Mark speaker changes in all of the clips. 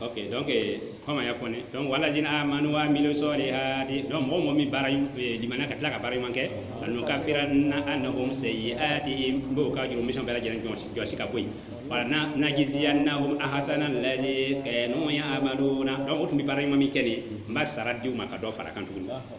Speaker 1: ok donc kɔmi a y'a fɔ ne donc walazina amanu wa amilu solihati donc mɔgɔ mɔgɔ min bara limaniya ka tila ka baara ɲuman kɛ lanukafiranna anahum sayyi'atihim n b'o ka jurumu misɛn bɛɛ lajɛlen jɔsi ka bɔ yen wala najiziyannahum ahsana allazi kanu ya'maluna donc o tun bɛ baara ɲuman min kɛ nin n b'a sara di u ma ka dɔ fara a kan tuguni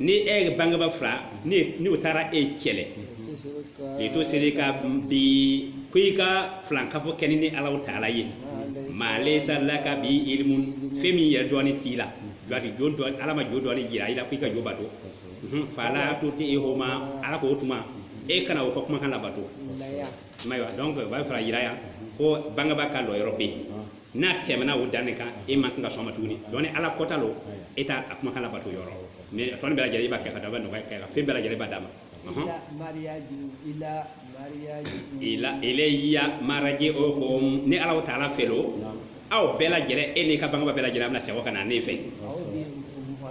Speaker 1: ni e ka bangeba fila ni ni o taara e cɛlɛ litusirika bi ko i ka filankafo kɛ ni ni alahu taala ye maa layisa laka bihi ilimu fɛn min yɛrɛ dɔnni t'i la jɔati jo dɔ ala ma jo dɔnni jira i la ko i ka jo bato Mhm, fala tutihuma ala ko o tuma e kana o ka kumakan labato mayiwa donc o b'a fɛ ka jira yan ko bangeba ka lɔyɔrɔ bɛ yen n'a tɛmɛna o dan de kan e ma kan ka sɔn a ma tuguni donc ni ala kɔta lo e t'a ka kumakan labato yɔrɔ mais a tɔ nin bɛɛ lajɛlen i b'a kɛ ka da bɛ nɔgɔya kɛ ka fɛn bɛɛ lajɛlen b'a d'a ma Ɔhɔn. ila ilayya maraji'ukum ni ala taala fɛ lo aw bɛɛ lajɛlen e n'i ka bangeba bɛɛ lajɛlen aw bɛna segin ka na ne fɛ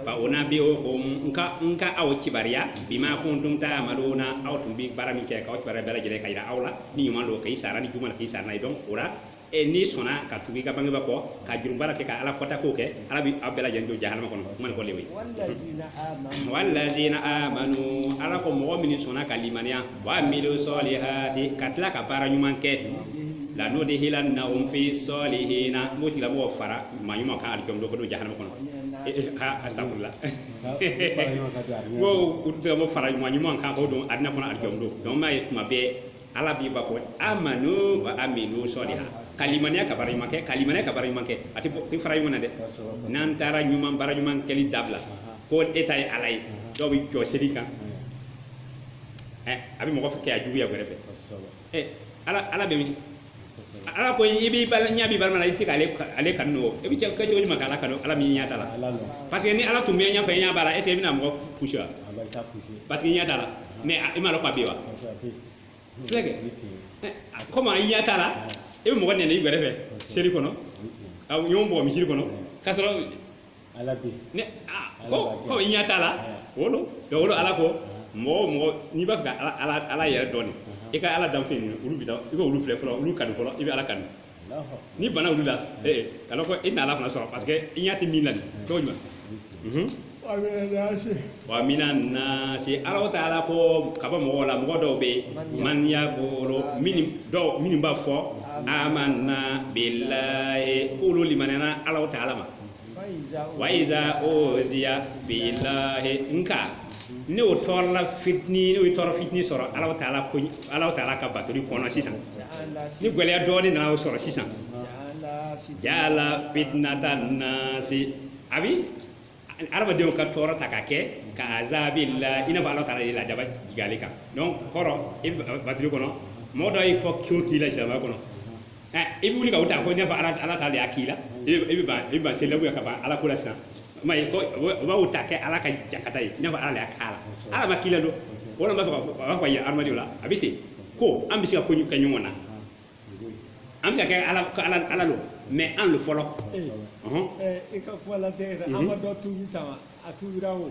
Speaker 1: fa unabi'ukum n ka aw kibaruya bima kuntum ta'maluna aw tun bi baara min kɛ k'a kibaruya bɛɛ lajɛlen k'a yira aw la ni ɲuman lo k'i sara ni juguman don k'i sara n'a ye donc o la e n'i sɔnna ka tugu i ka bangebaa kɔ ka jurumu baara kɛ ka ala kɔta k'o kɛ ala bɛ aw bɛɛ lajɛlen don jahanama kɔnɔ kuma ni kɔlen ye walazina amanu ala ko mɔgɔ min sɔnna ka limaniya wa amilu sɔlihati ka tila ka baara ɲuman kɛ lanudihilannahum fi sɔlihina n b'o tigilamɔgɔ fara maa ɲuman kan alijɔn don k'o don jahanama kɔnɔ ha astagfirullah k'o tigilamɔgɔ fara mɔgɔ ɲuman kan k'o don alijana kɔnɔ alijɔn don donc m'a ye tuma bɛɛ ala b'i ba fɔ amanu wa amilu sɔliha ka limaniya ka baara ɲuman kɛ ka limaniya ka baara ɲuman kɛ a tɛ bɔ fara ɲɔgɔn na dɛ n'an taara ɲuman baara ɲuman kɛli dabila ko e ta ye ala ye dɔw bɛ jɔ seli kan a bɛ mɔgɔ filɛ ka juguya a gɛrɛfɛ ala ala bɛ min ala ko i b'i bala ɲɛ b'i balima la i tɛ k'ale ka- ale kanu nɔgɔ i bɛ se cogo di ma k'ala kanu ala min i ɲɛ t'a la ala nɔ parce que ni ala tun bɛ ɲɛ fɛ ɲɛ b'a la est ce que i bɛna mɔgɔ pousser wa a bɛ taa pousser parce que i ɲɛ t'a la mais a- i m'a lɔn k'a bɛ yen wa parce que a bɛ Filɛ kɛ. yen Eh, a- komi i ɲɛ t'a la i bɛ mɔgɔ neni i gɛrɛfɛ seli kɔnɔ aw ɲɔgɔn bugɔ misiri kɔnɔ k'a sɔrɔ ala bi yen aa ko ko i ɲɛ t'a la o lo donc o lo ala ko mɔgɔ o mɔgɔ n'i b'a fɛ ka ala ala ala yɛrɛ dɔn nin i ka ala danfɛn nin olu bi da i ka olu filɛ fɔlɔ olu kanu fɔlɔ i bɛ ala kanu n'i banna olu la ee kana ko i na ala fana sɔrɔ parce que i ɲɛ tɛ min na nin t'o ɲuman Mhm. wa mina nasi ala taala ko ka bɔ mɔgɔw la mɔgɔ dɔw bɛ yen man yakulu minnu dɔw minnu b'a fɔ amanna bilahi k'olu limaniyana ala taala ma waiza uziya filahi nka ni o tɔɔrɔla fitini ni o ye tɔɔrɔ fitini sɔrɔ ala taala ko ala taala ka batoli kɔnɔ sisan ni gɛlɛya dɔɔni nana o sɔrɔ sisan jaala fitinata nasi a bɛ adamadenw ka tɔɔrɔ ta ka kɛ ka azabilahi i n'a fɔ ala taala ye lajaba jigin ale kan donc kɔrɔ e batoli kɔnɔ mɔgɔ dɔ y'i fɔ k'o k'i la silamɛya kɔnɔ i bɛ wuli ka o ta ko i n'a fɔ ala taala y'a k'i la i bɛ b'a sen labɔ ka bɔ ala ko la sisan ma ye u b'o ta kɛ ala ka jangata ye i n'a fɔ ala y'a k'a la ala ma k'i la don walima b'a fɔ a b'a fɔ ye adamaden wala a bɛ ten ko an bɛ se ka ko kɛ ɲɔgɔn na an bɛ ka kɛ ala ala don mɛ an don fɔlɔ
Speaker 2: i ka kuma la tɛ an ma dɔ tubi ta a tubira o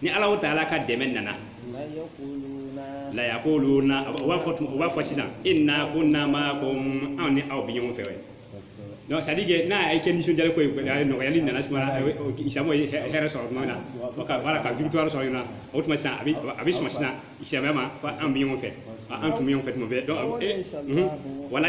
Speaker 1: ni alahu taala ka dɛmɛ nana layakuluna u b'a fɔ u b'a fɔ sisan ina kuna maakum anw ni aw bɛ ɲɔgɔn fɛ donc c'est-à-dire que n'a ye kɛ nisɔndiya ko ye nɔgɔyali nana tuma silamɛw ye hɛrɛ sɔrɔ tuma na wala ka victoire sɔrɔ na o tuma sisan a bɛ sɔn sisan silamɛw ma ko an bɛ ɲɔgɔn fɛ an tun bɛ ɲɔgɔn fɛ tuma bɛɛ donc wala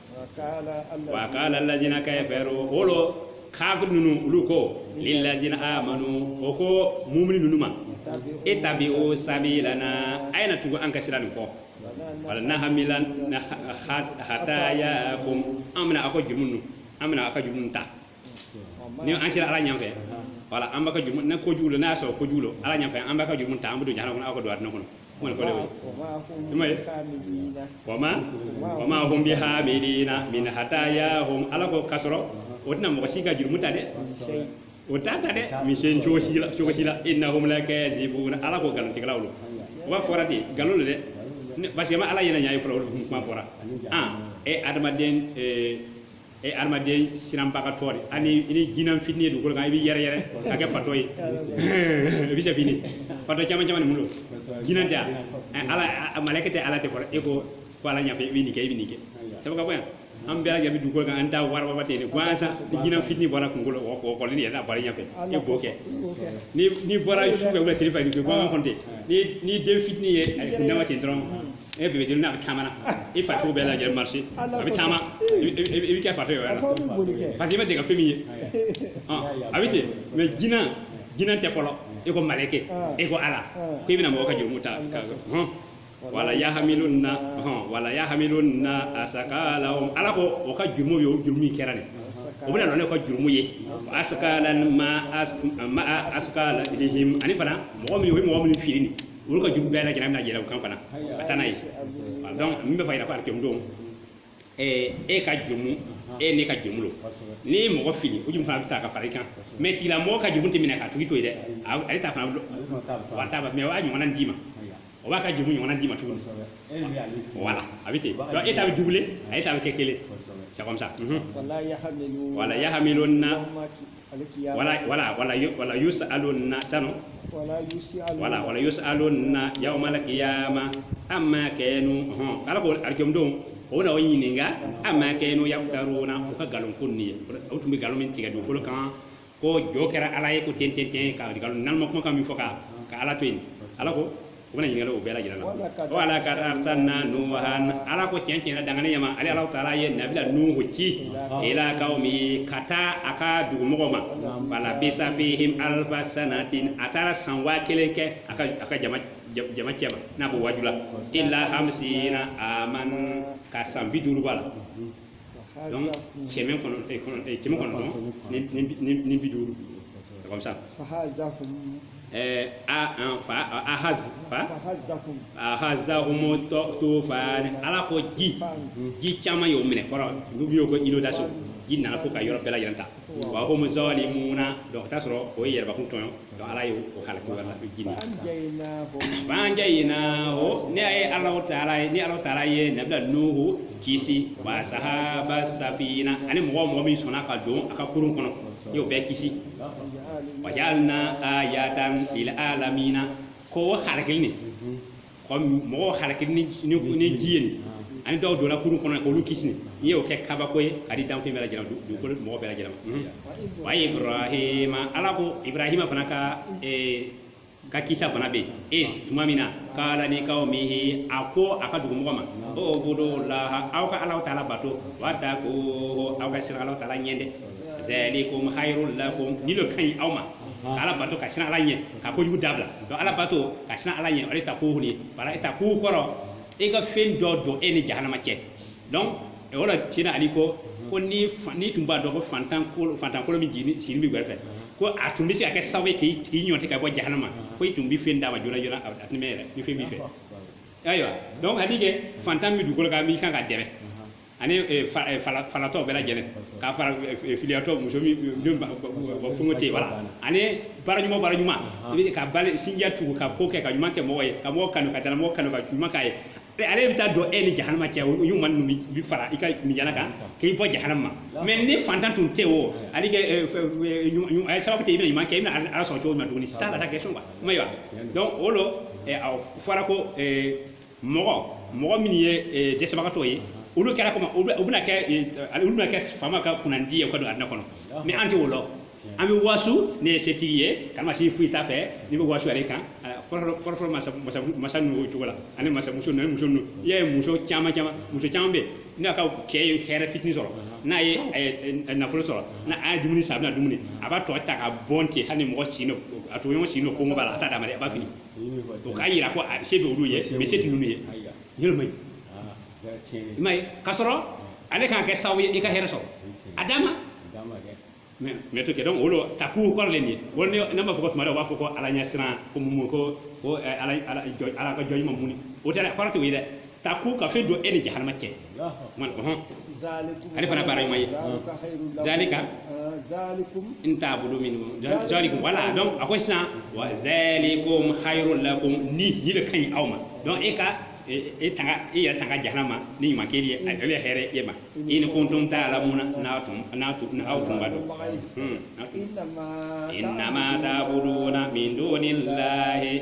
Speaker 1: wa kala lazina kafaru olu kafiri ninnu olu ko lilazina amanu o ko mumini ninnu ma itabiu sabilana a ye na tugu an ka sira nin kɔ wala nahamila hatayakum an bɛna aw ka jurumu ninnu an bɛna aw ka jurumu ta ni an sera ala ɲɛfɛ wala an b'aw ka jurumu ni ko jugu la n'a y'a sɔrɔ ko jugu don ala ɲɛfɛ an b'aw ka jurumu ta an bɛ don jahanama kɔnɔ aw ka don alijinɛ kɔnɔ kuma nin kɔrɔ le o ye wama wama hum bihamilina min hatayahum ala ko ka sɔrɔ o tɛna mɔgɔ si ka jurumu ta dɛ o t'a ta dɛ misen cogo si la cogo si la inahum lakazibuna ala ko nkalontigɛlaw don o b'a fɔra ten nkalon don dɛ parce que ma ala ɲɛ na ɲɛ ye fɔlɔ olu kuma fɔra an e adamaden e adamaden siranbagatɔ de ani i ni jinan fitini ye dugukolo kan i b'i yɛrɛyɛrɛ ka kɛ fatɔ ye i bɛ se fini fatɔ caman caman de bolo jinan tɛ yan Ɛ, ala a- maleke tɛ ala tɛ fɔlɔ e ko ko ala ɲafɛ i bɛ nin kɛ i bɛ nin kɛ sabu ka bɔ yan an bɛɛ lajɛlen bɛ dugukolo kan an ta warababa tɛ yen dɛ gansan ni jinan fitini bɔra kungo la wɔkɔlɔnin yɛrɛ n'a bɔra i ɲɛfɛ e b'o kɛ ni ni bɔra sufɛ wala tile fɛ gansan kɔni tɛ ni ni den fitini ye a ye kundama ten dɔrɔn e bɛ jeli n'a bɛ taama i fariso bɛɛ lajɛ marché a bɛ taama i bɛ kɛ fatɔ ye parce que i ma deli ka fɛn min ye a bɛ ten mɛ jinɛ jinɛ tɛ fɔlɔ e ko maleke e ko ala ko i bɛna mɔgɔ ka jurumu ta wala yahamilu wala yahamiluna asakalahum ala ko o ka jurumu ye o jurumu min kɛra nin o bɛna na ni o ka jurumu ye asakalan maa asakalihim ani fana mɔgɔ min o ye mɔgɔ min fili nin olu ka jurumu bɛɛ lajɛlen a bɛna yɛlɛ u kan fana ka taa n'a ye donc min bɛ fɛ ka yira ko alkiyama don ɛɛ e ka jurumu e n'i ka jurumu don n'i ye mɔgɔ fili o jurumu fana bɛ ta ka fara i kan mais tigila mɔgɔ ka jurumu tɛ minɛ k'a tigi to yen dɛ a- ale ta fana wari t'a ba mais o b'a ɲɔgɔnna d'i ma o b'a ka jurumu ɲɔgɔnna d'i ma tuguni voilà a bɛ ten donc e ta bɛ double ale ta bɛ kɛ kelen c'est comme ça mhm. wala yahamilu wala yahamilu na alkiyama wala wala wala yu- wala yusaluna sanu wala yusialu wala wala yusaluna yawmal qiyama amma kanu hon ala ko alkiyama don o bɛna o ɲininka amma kanu yaftaruna o ka galon ko ni o tun bɛ galon min tigɛ dugukolo kan ko jo kɛra ala ye ko ten ten ten ka galon nalonma kuma kan min fɔ ka ka ala to yen ala ko u bɛna ɲininka le o bɛɛ lajɛlen na Wala ka- wala ka arsalna nuhan ala ko tiɲɛ tiɲɛ na dangane ɲama ale ala taala ye nabila nuhu ci ila kaumi ka taa a ka dugumɔgɔ ma falabisa fihim alfa sanatin a taara san waa kelen kɛ a ka a ka jama ja- jama cɛma n'a b'o waaju la illa hamsina aman ka san bi duuru b'a la donc kɛmɛ kɔnɔ kɛmɛ kɔnɔntɔn ni bi duuru comme ça ahazahumu tufan ala ko ji ji caman y'o minɛ kɔrɔ olu bɛ y'o ko inondation ji nana fo ka yɔrɔ bɛɛ lajɛlen ta wa hum zalimuna donc ka taa sɔrɔ o ye yɛrɛbakun tɔɲɔ donc ala ye o halaki o la ji ni fanjaynahu ne ye ala o taala ye ni ala taala ye nabila nuhu kisi wa sahaba safina ani mɔgɔ o mɔgɔ min sɔnna ka don a ka kurun kɔnɔ n y'o bɛɛ kisi wajalina ayatan lil alamina ko o halakili nin mɔgɔw halakili ni ji ye nin ani dɔw donna kurun kɔnɔ k'olu kisi ne y'o kɛ kabako ye ka di danfɛn bɛɛ lajɛlen ma dugukolo mɔgɔ bɛɛ lajɛlen ma wa ibrahima ala ko ibrahima fana ka ka kisa fana bɛ yen iz tuma min na kala li kaumihi a ko a ka dugumɔgɔ ma ubudu laha aw ka ala taala bato wataku aw ka siran ala taala ɲɛ dɛ zalikum hayrul lakum nin lo ka ɲi aw ma ka ala bato ka siran ala ɲɛ ka kojugu dabila donc ala bato ka siran ala ɲɛ o de takuhu nin bari itaku kɔrɔ e ka fɛn dɔ don e ni jahanama cɛ donc o la cina ali ko ko ni fa- n'i tun b'a dɔn ko fantan kolo fantan kolo min jigini sigini b'i gɛrɛfɛ ko a tun bɛ se ka kɛ sababu ye k'i k'i ɲɔti ka bɔ jahanama ko i tun bɛ fɛn d'a ma joona joona a a tun bɛ yɛrɛ ni fɛn b'i fɛ ayiwa donc hali kɛ fantan bɛ dugukolo kan min kan ka dɛmɛ ani eh, fa- eh, fala- falatɔ bɛɛ lajɛlen k'a fara eh, eh, filiyatɔ muso min min ba- ba- ba- fɛngɛ tɛ yen voilà ani baaraɲuman baaraɲuman i bɛ se ka bali sinjiya tugu ka ko kɛ ka ɲuman kɛ mɔgɔ ye ka mɔgɔ kanu ka dala mɔgɔ kanu ka ɲuman k'a ye Eh, ale bɛ taa don e ni jahanama cɛ o ɲuman ninnu bi- bi fara i ka minjala kan k'i bɔ jahanama ma mais ni fantan tun tɛ o ale kɛ eh, fɛ- eh, ɲuman- ɲuman- a ye sababu tɛ i bɛna ɲuman kɛ i bɛna ala- ala sɔrɔ cogo min na tuguni ça la question quoi m'a ye wa donc o lo eh, a fɔra ko eh, mɔgɔ mɔgɔ min ye eh, dɛsɛbagatɔ ye olu kɛra komi u bɛna kɛ eh, olu bɛna kɛ faama ka kunnandi ye ka don alijina kɔnɔ mais an tɛ o lɔn an bɛ wasu ne ye setigi ye karamasi foyi t'a fɛ n'i bɛ wasu ale kan eh, fɔlɔfɔlɔ masa ninnu o cogo la ani masamuso ninnu muso ninnu i y'a ye muso caman caman muso caman bɛ n'a ka cɛ ye hɛrɛ fitinin sɔrɔ n'a ye nafolo sɔrɔ n'a a ye dumuni san a bɛna dumuni a b'a tɔ ta ka bɔn ten hali ni mɔgɔ sin a tɔɲɔgɔn sin don kɔngɔ b'a la a t'a d'a ma dɛ a b'a fili o k'a yira ko a se bɛ olu ye mais se tɛ ninnu ye yɔrɔ ma ɲi i ma ye ka sɔrɔ ale k'a kɛ sababu ye i ka hɛrɛ sɔrɔ a d'a ma mais e t'o kɛ donc o lo taqu kɔrɔ le nin ye voilà ne ne b'a fɔ ko tuma dɔw u b'a fɔ ko ala ɲɛsiran ko mun ko ko ɛ, ala ala jɔ- ala ka jɔn ɲuman mun o tɛ dɛ kɔrɔ t'o ye dɛ taqu ka fɛn don e ni jahanama cɛ man ko hon zalikum ale fana baara ɲuman ye zalika khairul lakum. zalika Ah, zalikum in ta'budu min zalikum voilà donc a ko sisan wa zalikum khairul lakum ni ni de ka ɲi aw ma donc e ka e e tanga e yɛrɛ tanga jahanama ni ɲuman kɛli ye ale ye hɛrɛ ye e ma in kuntum ta'lamuna n'a tun n'a tun n'aw tun b'a dɔn Hmm, n'a tun- innama innama ta'buduna min dunillahi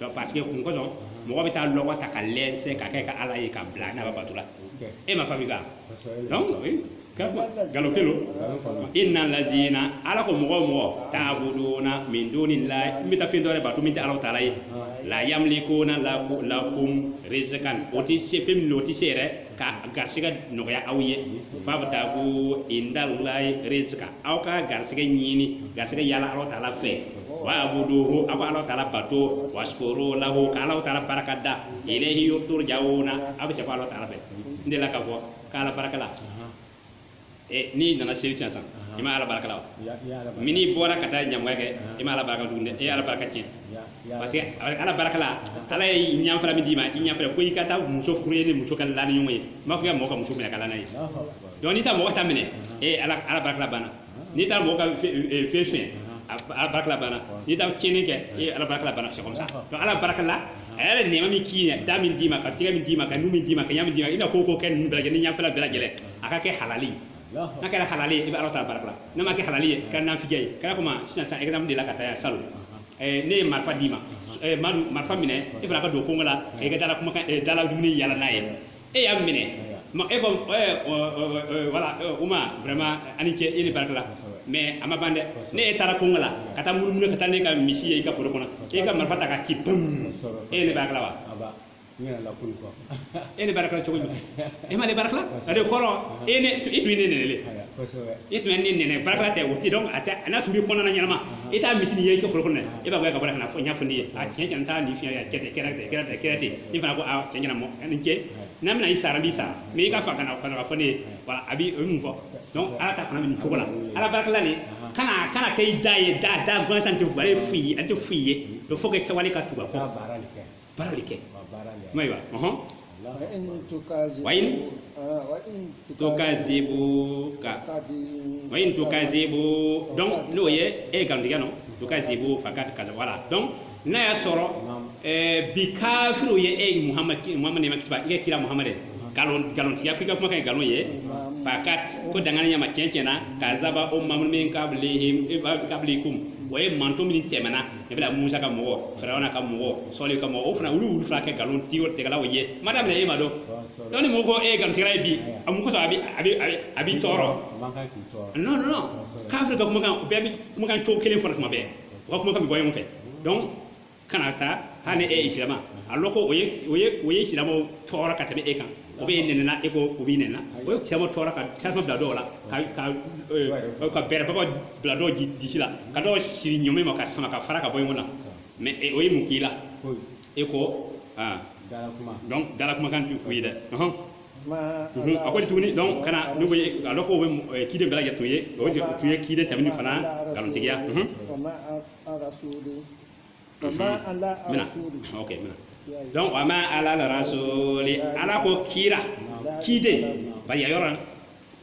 Speaker 1: donc parce que mun kosɔn mɔgɔ bɛ taa lɔgɔ ta k'a lɛsɛ k'a kɛ a ka ala ye k'a bila n'a b'a bato la e m'a fabriquer donc galon fɛn lo inna lazina ala ko mɔgɔ o mɔgɔ ta'buduna min dunillahi n bɛ taa fɛn dɔ wɛrɛ bato min tɛ alahu taala ye la yamlikuna lakum rizqan o tɛ se fɛn min o tɛ se yɛrɛ ka garisɛgɛ nɔgɔya aw ye fabtaghu indallahi rizqa aw ka garisɛgɛ ɲini garisɛgɛ yala alahu taala fɛ wa'buduhu aw ka alahu taala bato washkuru lahu ka alahu taala barika da ilayhi turja'una aw bɛ se kɔ alahu taala fɛ n delila k'a fɔ k' ala barika la n'i nana seli sisan i ma ala barika la mais n'i bɔra ka taa ɲamɔgɔya kɛ i ma ala barika tuguni dɛ e ala barika tiɲɛ parce que ala barika la ala ye ɲɛfɛla min d'i ma i ɲɛfɛla ko i ka taa muso furu e ni muso ka la ni ɲɔgɔn ye a m'a fɔ i ka mɔgɔ ka muso minɛ ka la n'a ye donc n'i taa mɔgɔ ta minɛ e ala barika la banna n'i taara mɔgɔ ka fɛn sonya ala barika la banna n'i taara tiɲɛni kɛ e ala barika la banna c'est ça ala barika la a ye nɛɛma min k'i ye da min d'i ma ka tɛgɛ min d'i ma ka nu min d'i ma ka ɲa min d'i ma i bɛna ko o ko kɛ ninnu bɛɛ lajɛlen ni ɲɛfɛla bɛɛ lajɛlen a ka kɛ halali n'a kɛra halali ye i bɛ alahu taala barika la n'a ma kɛ halali ye ka nafijɛ ye kɛra komi sisan sisan exemple de la ka taa yan salon ne ye marifa d'i ma madu marifa minɛ e fana ka don kongo la i ka dala kumakan dala dumuni yala n'a ye e y'a minɛ e ko voilà uma vraiment ani ce e ne barika la mais a ma ban dɛ ne e taara kungo la ka taa munumunu ka taa ne ka misi ye i ka foro kɔnɔ e ka marifa ta ka ci pum e ne barika la wa e ne barika la cogo jumɛn e ma ne barika la ale kɔrɔ e ne i tun ye ne nɛnɛ i tun ye ne nɛnɛ barika la tɛ o tɛ donc a n'a tun b'i kɔnɔ na ɲɛnama e taa misi ye i ka foro kɔnɔ e b'a gɛn ka bɔ ka na fɔ n y'a fɔ ne ye a tiɲɛ tiɲɛ t'a nin fiɲɛ y'a kɛ ten kɛra ten kɛra ten kɛra ten ne fana ko a tiɲɛ tiɲɛ na ani ce n'a bɛna i sara n b'i sara mais i ka fa ka na ka na fɔ ne ye voilà a bi o ye mun fɔ donc ala ta fana bɛ nin cogo la ala barikala nin kana kana kɛ i da ye da da gansan tɛ fugale foyi ye an tɛ foyi ye donc faut que kɛwale ka tugu a kɔ baara de kɛ kuma ye wa ɔhɔn wa in tukazibu ka wa in tukazibu donc n'o ye e nkalontigiya nɔ tukazibu fakat kaza voilà donc n'a y'a sɔrɔ ɛɛ bi kafiriw ye e ye muhamad muhamad nɛɛma kisi b'a ye kira muhamad ye nkalon nkalontigiya ko i ka kumakan ye nkalon ye fakat ko dangani ɲama tiɲɛ tiɲɛ na kazaba umamun min kabili kabilikum o ye mantɔn min tɛmɛna nabila musa ka mɔgɔ firawuna ka mɔgɔ sɔli ka mɔgɔ o fana olu olu fana kɛ nkalon tigɛ tigɛlaw ye ma daminɛ e ma donc donc ni mɔgɔ ko e ye nkalontigɛla ye bi a mun kosɔn a bɛ a bɛ a bɛ a b'i tɔɔrɔ non non kafiri ka kumakan bɛɛ bɛ kumakan cogo kelen fɔra tuma bɛɛ u ka kumakan bɛ bɔ ɲɔgɔn fɛ donc kana taa hali ni e ye silamɛ a lɔn ko o ye o ye o ye silamɛw tɔɔrɔ ka tɛmɛ e kan o b'e neni na e ko o b'i neni na o ye caman tɔɔrɔ ka tasuma bila dɔw la ka ka eh, ka bɛrɛ baba bila dɔw di- disi la ka dɔw siri ɲɔmɛ ma ka sama ka fara ka bɔ ɲɔgɔn na mais eh, o ye mun k'i la foyi e ko ah, dala kuma donc dala kumakan tɛ foyi ye dɛ ɔhɔn. ma Mhm, a ko de tuguni donc kana ne ko ye- a dɔn k'o bɛ mɔ- eh, ciden bɛɛ lajɛlen tun ye o de tun ye ciden tɛmɛnen fana nkalontigiya mhm. wa ma a rasuli ma ala mina rasuli ok mina donc wa ma alal rasuli ala ko kira kiden bari a yɔrɔ la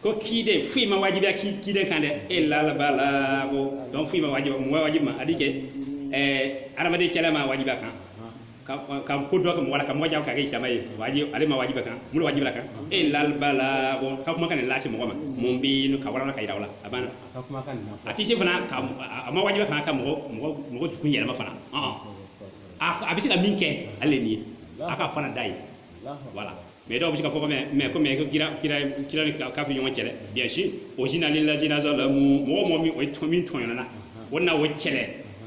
Speaker 1: ko kiden foyi ma wajibiya ki- kiden kan dɛ ilal balagu donc foyi ma wajibiya mɔgɔ wajibi ma a di kɛ ɛɛ adamaden kɛlɛ ma wajibiya kan ka ka ko dɔ kɛ mɔgɔ la ka mɔgɔ jagoya ka kɛ silama ye wajibi ale ma wajibiya kan mun de wajibiya kan ilal balagu ka kumakan nin lase mɔgɔ ma mubinu ka wara ka yira o la a banna ka kumakan nin na fɔ a tɛ se fana ka a ma wajibi fana ka mɔgɔ mɔgɔ mɔgɔ dusukun yɛlɛma fana ɔn a a bɛ se ka min kɛ ale de nin ye a k'a fɔ n'a da ye voilà mais dɔw bɛ se ka fɔ ko mais mais ko mais ko kira kira kira ni ka- kafiri ɲɔgɔn kɛlɛ bien sûr uzina lilazina zɔlamu mɔgɔ o mɔgɔ min o ye tɔn min tɔɲɔna na o na o kɛlɛ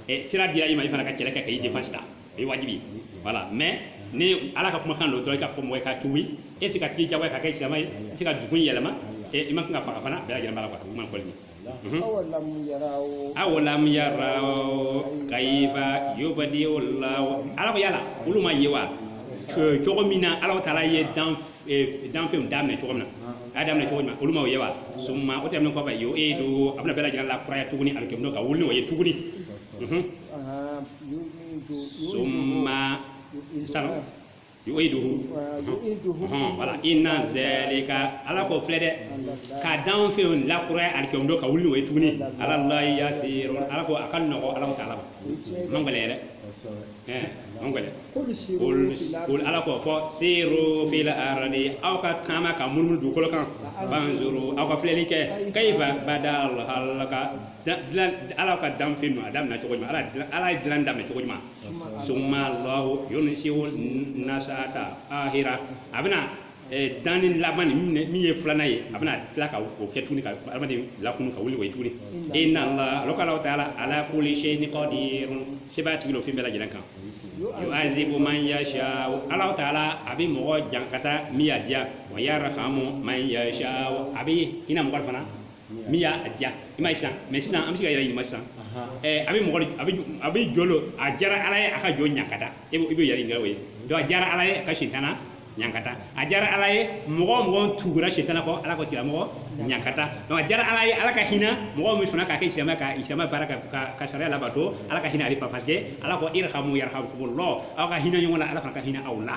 Speaker 1: ɛ sira dira i ma i fana ka kɛlɛ kɛ ka i défense ta o ye wajibi voilà mais ni ala ka kumakan don dɔrɔn i ka fɔ mɔgɔ ye ka tubi e tɛ k'a tigi jagoya ka kɛ silamɛ ye i tɛ ka dusukun yɛlɛma e i ma kan ka faga fana bɛɛ lajɛlen b'a la quoi u ma kɔli awalam yaraw kaifa yubdi'u allah ala ko yala olu ma ye wa Co- cogo min na ala taala ye dan eh, danfɛnw daminɛ cogo min na a y'a daminɛ cogo min na olu ma o ye wa summa o tɛmɛnen kɔfɛ yu'iduhu a bɛna bɛɛ lajɛlen lakuraya tuguni alikiyama don ka wuli n'o ye tuguni Mhm. summa sanu yu'iduhu voilà inna zalika ala ko filɛ dɛ ka danfɛn lakuraya alikiyama don ka wuli n'o ye tuguni alallahi yasiro ala ko a ka nɔgɔ ala taala ma man gɛlɛ yɛrɛ ɛɛ man gɛlɛ kul ala ko fɔ siru fil ardi aw ka taama ka munumunu dugukolo kan fanzuru aw ka filɛli kɛ kayifa badal halaka ala ka danfɛn don a daminɛ cogo ala ala ye dilan daminɛ cogo min na summa allahu yunsi'u nasata ahira a bɛna danni laban min ye filanan ye a bɛna tila ka o kɛ tuguni ka adamaden lakunun ka wuli o tuguni inna laha ala taala ala kulli sayi'in kadir sebaatigi don fɛn bɛɛ lajɛlen kan yu'azibu man yasa ala taala a bɛ mɔgɔ ɲankata min y'a diya wa yarhamu man yasa a bɛ hinɛ mɔgɔ fana min y'a diya i ma sisan mais sisan an bɛ se k'an yɛrɛ ɲininka sisan a bɛ mɔgɔ a bɛ jɔn don a diyara ala ye a ka jɔn ɲankata e i bɛ yɛrɛ ɲininka o ye donc a diyara ala ye a ka sitana ɲankata a diyara ala ye mɔgɔ mɔgɔ tugura sitana kɔ ala ka tiramɔgɔ ɲankata donc a diyara ala ye ala ka hinɛ mɔgɔ min fana k'a kɛ silamɛ ka silamɛ baara kɛ ka sariya labato ala ka hinɛ ale fana parce que ala ko irhamu yarhamkumullah aw ka hinɛ ɲɔgɔn la ala fana ka hinɛ aw la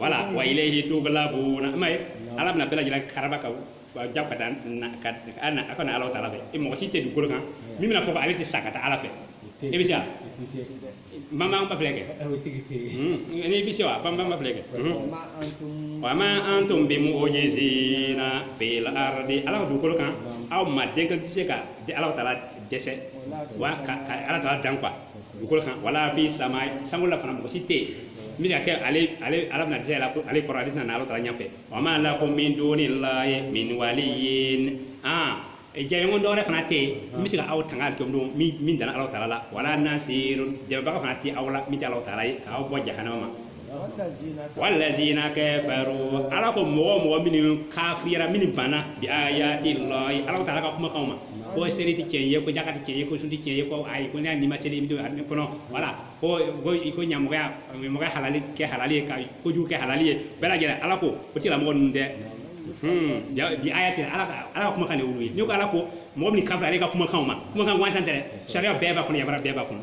Speaker 1: voilà wa ilayhi tuqlabuna mais ala bɛna bɛɛ lajɛlen karaba ka ja ka taa a ka na ala taala fɛ mɔgɔ si tɛ dugukolo kan min bɛna fɔ ko ale tɛ sa ka taa ala fɛ e bɛ se wa bamanan b'a filɛ kɛ n'i bɛ se wa bamanan b'a filɛ kɛ wa ma antum bi mu'ujizina fil aradi ala ka dugukolo kan aw adamaden tɛ se ka di ala taala dɛsɛ wa ka ala taala dan quoi dugukolo kan wala fi sama sankolo la fana mɔgɔ si tɛ yen min bɛ se ka kɛ ale ale ala bɛna dɛsɛ la ko ale kɔrɔ ale tɛna na ala taala ɲɛfɛ wa ma lakum min dunillahi min waliyin jɛɲɔgɔn dɔwɛrɛ fana tɛ yen min bɛ se ka aw tanga ala kɔ dɔ min dana ala taala la wala nasir dɛmɛbaga fana tɛ aw la min tɛ ala taala ye k'aw bɔ jahanama ma walazina kafaru ala ko mɔgɔ mɔgɔ minnu kafira minnu banna bi ayati lahi alahu taala ka kumakanw ma ko seli ti cɛn ye ko jaka ti cɛn ye ko sun ti cɛn ye ko ayi ko n'a n'i ma seli i bɛ don arijinɛ kɔnɔ wala ko ko i ko ɲamɔgɔya ɲamɔgɔya halali kɛ halali ye ka kojugu kɛ halali ye bɛɛ lajɛlen ala ko o tigilamɔgɔ ninnu dɛ Hmm, ya- bi ayati ala ka ala ka kumakan de y'olu ye n'i ko ala ko mɔgɔ min kafira ale ka kumakanw ma kumakan gansan tɛ dɛ sariya bɛɛ b'a kɔnɔ yamaruya bɛɛ b'a kɔnɔ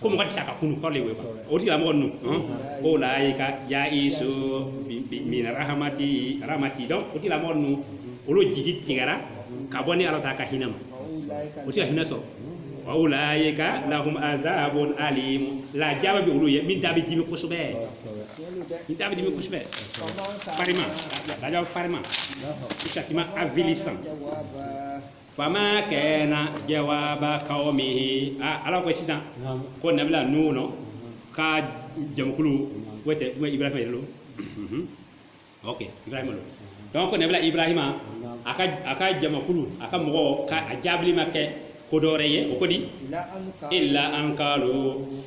Speaker 1: ko mɔgɔ tɛ sa ka kunun kɔrɔlen wele o tigila mɔgɔ ninnu ulayika yayisu min arahamati aramati donc o tigila mɔgɔ ninnu olu jigi tigɛra ka bɔ ni ala taala ka hinɛ ma o tɛ ka hinɛ sɔrɔ wa ulayika lahum azabun alim lajaba bɛ olu ye min da bɛ dimi kosɛbɛ min da bɛ dimi kosɛbɛ farima lajaba farima châtiment avilissant fama kana jawaba kawmihi aa ala ko sisan ko nabila nuhun ka jamakulu o tɛ ibrahima yɛrɛ don ok ibrahima don donc ko nabila ibrahima a ka a ka jamakulu a ka mɔgɔ ka a jaabili ma kɛ ko dɔ wɛrɛ ye o ko di illa an kaalu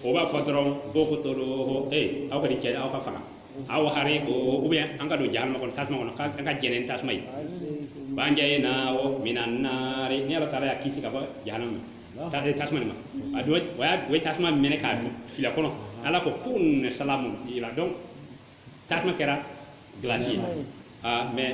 Speaker 1: o b'a fɔ dɔrɔn ko ukutuluhu ee aw ka nin cɛ aw k'a faga aw hariku ou bien an k'a don jahanama kɔnɔ tasuma kɔnɔ an k'a jɛnɛ ni tasuma ye fa anjahu lahu mina naari ni ala taala y'a kisi ka bɔ jahanama ma ta- tasuma nin ma a do o y'a o ye tasuma mɛnɛ k'a fili a kɔnɔ ala ko kuni salamu i la donc tasuma kɛra gilasi ye Ah, mais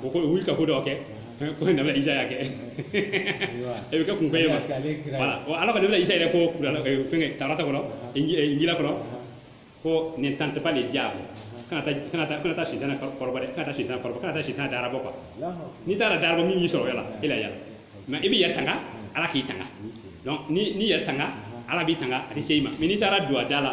Speaker 1: o ko wuli ka ko dɔ kɛ ko nabila isa kɛ e bɛ kɛ kun ye voilà ko nabila isa yɛrɛ ko fɛn tawurata kɔnɔ injila kɔnɔ ko ne tente pas le diable kana taa sitanɛ kɔrɔbɔ dɛ kana sitanɛ kɔrɔbɔ kana taa sitanɛ darabɔ ko n'i taara darabɔ min y'i sɔrɔ yala e la yala mais i b'i yɛrɛ tanga ala k'i tanga n'i y'i yɛrɛ tanga ala b'i tanga a tɛ se i ma mais n'i taara don a da la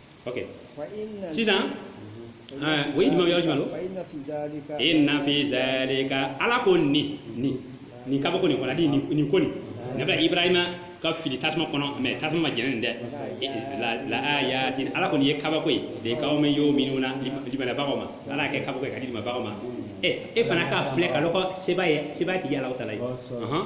Speaker 1: ok fa inna sisan ɛɛ, o ye jumɛn ye, yɔrɔ jumɛn don? fa inna fi dhalika inna fi zalika ala ko nin nin nin kabako nin kɔnɔ adi nin nin ko nin nabila ibrahima ka fili tasuma kɔnɔ mais tasuma m'a jɛnɛ nin dɛ E, la la ayatin ala ko nin ye kabako ye de kawmin yuminuna limanabagaw ma ala y'a kɛ kabako ye k'a di limanabagaw ma ɛ e fana k'a filɛ k'a lɔn ko seba ye seba tigi ye alahu taala ye Ɔhɔn.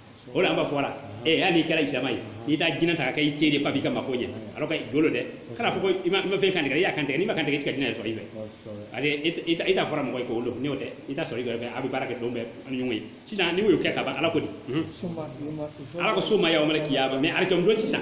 Speaker 1: o de an b'a fɔ la ee hali n'i kɛra silamɛ ye n'i taa jinɛ ta k'a kɛ i teri ye k'a b'i ka mako ɲɛ alors que jo lo dɛ kan'a fɔ ko i ma fɛn kantigɛ i y'a kantigɛ n'i ma kantigɛ i tɛ ka jinɛ sɔrɔ i fɛ ale i t'a fɔra mɔgɔ ye k'o don n'o tɛ i t'a sɔrɔ i yɛrɛ fɛ a bɛ baara kɛ don bɛɛ ni ɲɔgɔn ye sisan n'i y'o kɛ ka ban ala ko di ala ko suma yawmal kiyama mais alikiyama don sisan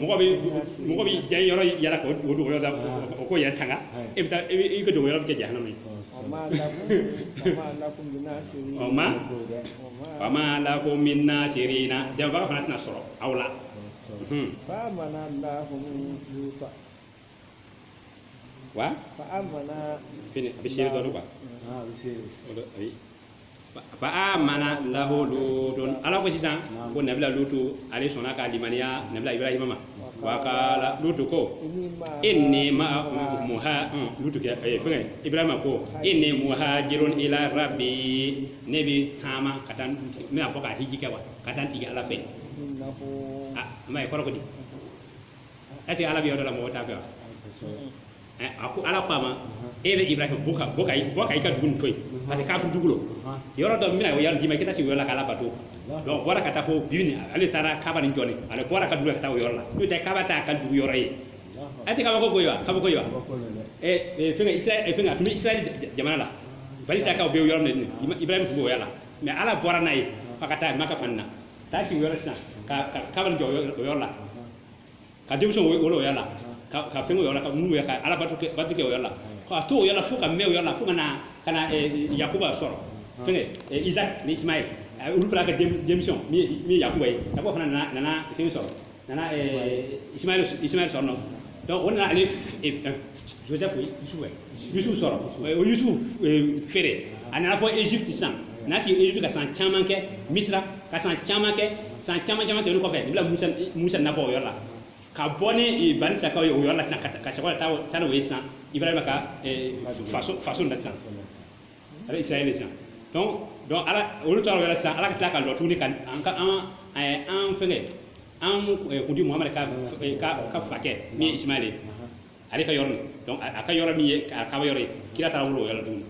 Speaker 1: mɔgɔ bɛ mɔgɔ bɛ diya yɔrɔ yala ka o dogo yɔrɔ la o k'o yɛrɛ tanga e bɛ taa e bɛ i ka dogo yɔrɔ bɛ kɛ jahanama ye o ma wa ma lakum min nasirina dɛmɛbaga fana tɛna sɔrɔ aw la
Speaker 2: wa fa amana fini a bɛ
Speaker 1: seere dɔ don wa aa a bɛ se o dɔ ayi Fa- fa amana lahu lutun ala ko sisan ko nabila lutu ale sɔnna ka limaniya nabila ibrahima ma wa kala lutu ko inni ma inni ma muha mm, lutu kɛ eh, fɛngɛ ibrahima ko inni muhajirun ila rabbi ne bɛ taama ka taa n bɛna bɔ ka hiji kɛ wa ka taa n tigi ala fɛ innahu a ma ye kɔrɔ ko di est-ce que ala bɛ yɔrɔ dɔ la mɔgɔ t'a fɛ wa Ɛ, a ko ala ko a ma e bɛ ibrahim bɔ ka bɔ ka i- bɔ ka i ka dugu nin to yen parce que kafiri dugu lo yɔrɔ dɔ bɛna o yɔrɔ d'i ma i ka taa sigi o yɔrɔ la k'ala bato donc bɔra ka taa fo bi nin ale taara kaba nin jɔ ni ale bɔra ka dugu la ka taa o yɔrɔ la n'o tɛ kaba t'a ka dugu yɔrɔ ye a tɛ kabako koyi wa kabako ye wa ɛ ɛ, fɛngɛ israɛl ɛ, fɛngɛ a tun bɛ israɛl j- j- jamana la bani isaka o bɛ yɔrɔ min na Ima- ibrahim tun b'o yɔrɔ la mais ala bɔra n'a ye f'a ka taa maka fana na taa sigi o yɔrɔ sisan ka ka kaba nin jɔ o yɔrɔ- o yɔrɔ la ka denmisɛnw wolo o yɔrɔ la ka ka fɛn o yɔrɔ la ka mun yɛrɛ ka ala bato kɛ bato kɛ o yɔrɔ la ka to o yɔrɔ la fo ka mɛn o yɔrɔ la fo ka na ka na yakuba sɔrɔ fɛngɛ isaac ni ismaɛl olu fana ka denmisɛn min ye yakuba ye yakuba fana nana nana fɛn sɔrɔ nana ismaɛl ismaɛl sɔrɔ non donc o nana ale joseph ye yusufu ye yusufu sɔrɔ o yusufu eh, feere a nana fo egypte sisan a nana sigi egypte ka san caman kɛ misira ka san caman kɛ san caman caman tɛmɛnen kɔfɛ nabila musa musa na bɔ o yɔrɔ la ka bɔ ni eh, bani isakaw ye o yɔrɔ la sisan ka ta- ka sɔrɔ ka taa taa n'o ye sisan ibrahima ka eh, faso faso la sisan a bɛ israɛl sisan donc donc ala olu tora o yɔrɔ la sisan ala ka tila ka lɔ tuguni ka an ka an eh, an fɛngɛ an kuntigi muhamadu ka ka fakɛ min ye ismaɛl ye ale ka yɔrɔ nin donc a ka yɔrɔ min ye kaba yɔrɔ ye kira taara wolo o yɔrɔ tuguni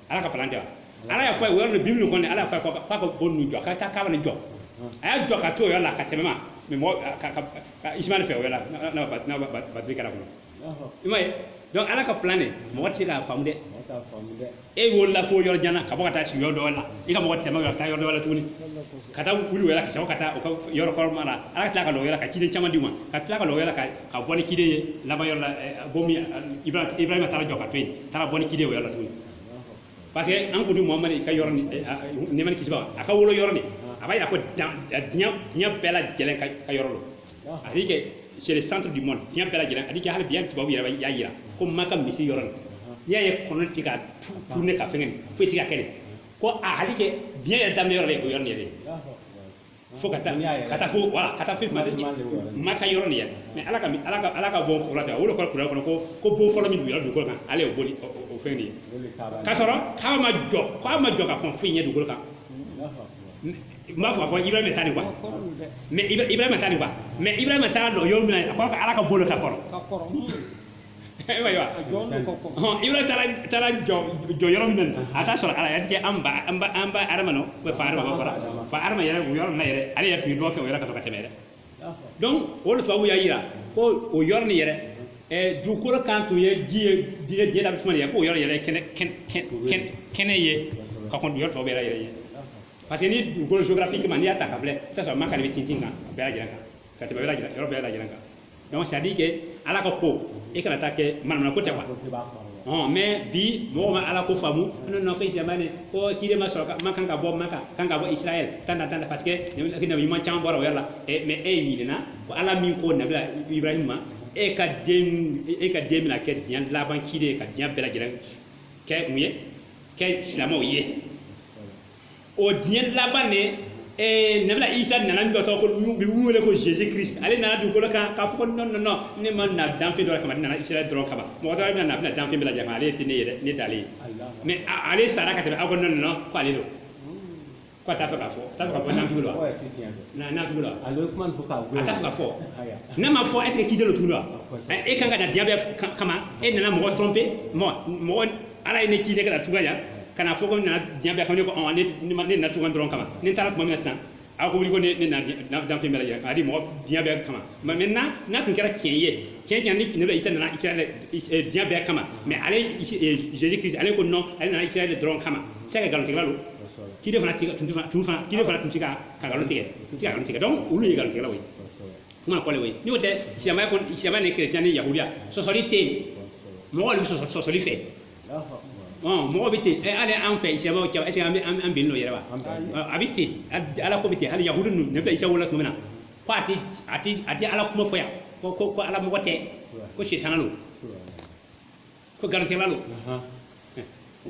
Speaker 1: ala ka plan tɛ wa ala y'a fɔ a ye o yɔrɔ nin bibili kɔnɔ ala y'a fɔ a ye k'a ka bon nin jɔ a ka taa kaba nin jɔ a y'a jɔ ka to o yɔrɔ la ka tɛmɛ ma mais mɔgɔ ka ka ka ismaɛl fɛ o yɔrɔ la n'a ba n'a ba batiri kɛra kɔnɔ i m'a ye donc ala ka plan de mɔgɔ tɛ se k'a faamu dɛ e wolola fo yɔrɔ jan na ka bɔ ka taa sigi yɔrɔ dɔ la i ka mɔgɔ tɛmɛ ka taa yɔrɔ dɔ la tuguni ka taa wuli o yɔrɔ ka sɔrɔ ka taa yɔrɔ kɔrɔman la ala ka tila ka lɔ o yɔrɔ ka ciden caman di u ma ka tila ka lɔ o yɔrɔ ka ka bɔ ni ciden ye laban yɔrɔ la bon min ibrahima taara jɔ ka to yen taara bɔ ni ciden o yɔrɔ la tuguni parce que an kuntigi muhamadu ka yɔrɔ nin nɛɛma ni kisi b'a a ka wolo yɔrɔ nin a b'a yira ko diɲɛ bɛɛ lajɛlen ka yɔrɔ la a dit que c'est le centre du monde diɲɛ bɛɛ lajɛlen a dit que hali bi hali tubabu yɛrɛ b'a- y'a yira ko maka misiri yɔrɔ nin n'i y'a ye kɔnɔ ti ka tu- tourner ka fɛngɛ nin foyi ti ka kɛ nin ko a hali kɛ diɲɛ yɛrɛ daminɛ yɔrɔ de ye o yɔrɔ nin yɛrɛ ye fo ka taa N'i y'a yɛrɛ- ka taa fo voilà ka taa fɛn fɛn Fɛn fɛn de y'o yɔrɔ ye. maka yɔrɔ nin yɛrɛ mais ala ka ala ka ala ka bon fɔlɔ tɛ o de kɔrɔ kuranɛ kɔnɔ ko ko bon fɔlɔ min duguyara dugukolo kan ale y'o boli o- o o fɛn de ye O de ye Kaaba ye. k'a sɔrɔ k'a ma jɔ k'a ma jɔ ka kɔn foyi ɲɛ dugukolo kan Allahu akbar. n b'a fɔ a fɔ ibrahima ta de wa mais ibrahima ta de wa mais ibrahima taara dɔn yɔrɔ min na a ko ala ka bolo ka kɔrɔ ayiwa ibrahima taara taara jɔ jɔ yɔrɔ min na a t'a sɔrɔ ala y'a kɛ an ba an ba an ba adama ou bien fa adama fara fa adama yɛrɛ o yɔrɔ min na yɛrɛ ale yɛrɛ tun ye dɔ kɛ o yɔrɔ ka to ka tɛmɛ dɛ donc o de tubabu y'a yira ko o yɔrɔ nin yɛrɛ ɛɛ dugukolo kan tun ye ji ye diɲɛ diɲɛ la bɛ tuma de ye k'o yɔrɔ yɛrɛ kɛnɛ kɛnɛ kɛnɛ ye ka kɔn yɔrɔ tɔw bɛɛ yɛrɛ yɛrɛ ye parce que ni dugukolo géographiquement n'i y'a ta ka filɛ i bɛ t'a sɔrɔ maka de bɛ tintin kan bɛɛ lajɛlen kan ka tɛmɛ yɔrɔ bɛɛ lajɛlen kan donc c'est à dire que ala ka ko e kana taa kɛ manamana ko tɛ quoi ɔn mais bi mɔgɔw ma ala ko faamu non non ko ismaël ko ciden ma sɔrɔ man kan ka bɔ man kan kan ka bɔ israel tan na tan na parce que nabi ɲuman caman bɔra o yɔrɔ la mais e ɲinɛna ko ala min ko nabila ibrahim ma e ka den e ka den bɛna kɛ diɲɛ laban ciden ye ka diɲɛ bɛɛ lajɛlen kɛ mun ye kɛ silamɛw ye o diɲɛ laban de ee nabila isa nana min tɔgɔ ko bi wele ko jesus christ ale nana dugukolo kan k'a fɔ ko non non non ne ma na danfɛn dɔ kama ne nana israel dɔrɔn kama mɔgɔ dɔ bɛna na a bɛna danfɛn bɛɛ lajɛ ale tɛ ne ye dɛ ne t'ale ye mais ale sara ka tɛmɛ aw ko non non ko ale don ko a t'a fɛ k'a fɔ a t'a fɛ ka fɔ nafigi don wa nafigi don a t'a fɛ ka fɔ n'a ma fɔ est-ce que ciden don tugu wa e kan ka na diɲɛ bɛɛ kama e nana mɔgɔ tromper mɔgɔ ala ye ne ci ne ka na tugan yan ka na fɔ ko nana diɲɛ bɛɛ kama ne ko ɔn ne ne ma- ne nana tugan dɔrɔn kama ne taara tuma min na sisan a ko wuli ko ne nana diɲɛ- na- danfɛn bɛɛ lajɛlen k'a di mɔgɔ diɲɛ bɛɛ kama mais mais n'a n'a tun kɛra tiɲɛ ye tiɲɛ tiɲɛ ni nabi isa nana israel- is- eh, diɲɛ bɛɛ kama mais ale Isi- eh, jesus christ ale ko non ale nana israel dɔrɔn kama c'est que nkalontigɛla don ciden fana ti ka tun ti fana tun fana ciden fana tun ti ka ka nkalon tigɛ tun ti ka nkalon tigɛ donc olu ye nkalontigɛlaw ye kuma kɔlɛ o ye n'o tɛ silamɛya kɔni silamɛya ni chrétien ni yahudiya sɔsɔli tɛ yen mɔgɔ de bɛ sɔsɔ- sɔsɔli fɛ Ɔn, mɔgɔ bɛ ten ɛ, hali an fɛ silamɛw cɛ est-ce que an bɛ- an an bɛnnen don yɛrɛ wa Ɔ, a bɛ ten hali- ala ko bɛ ten hali yahudu ninnu nabi isa wolola tuma min na ko a tɛ a tɛ a tɛ ala kuma fɔ yan ko ko ko ala mɔgɔ tɛ ko sitana don ko nkalontigɛla don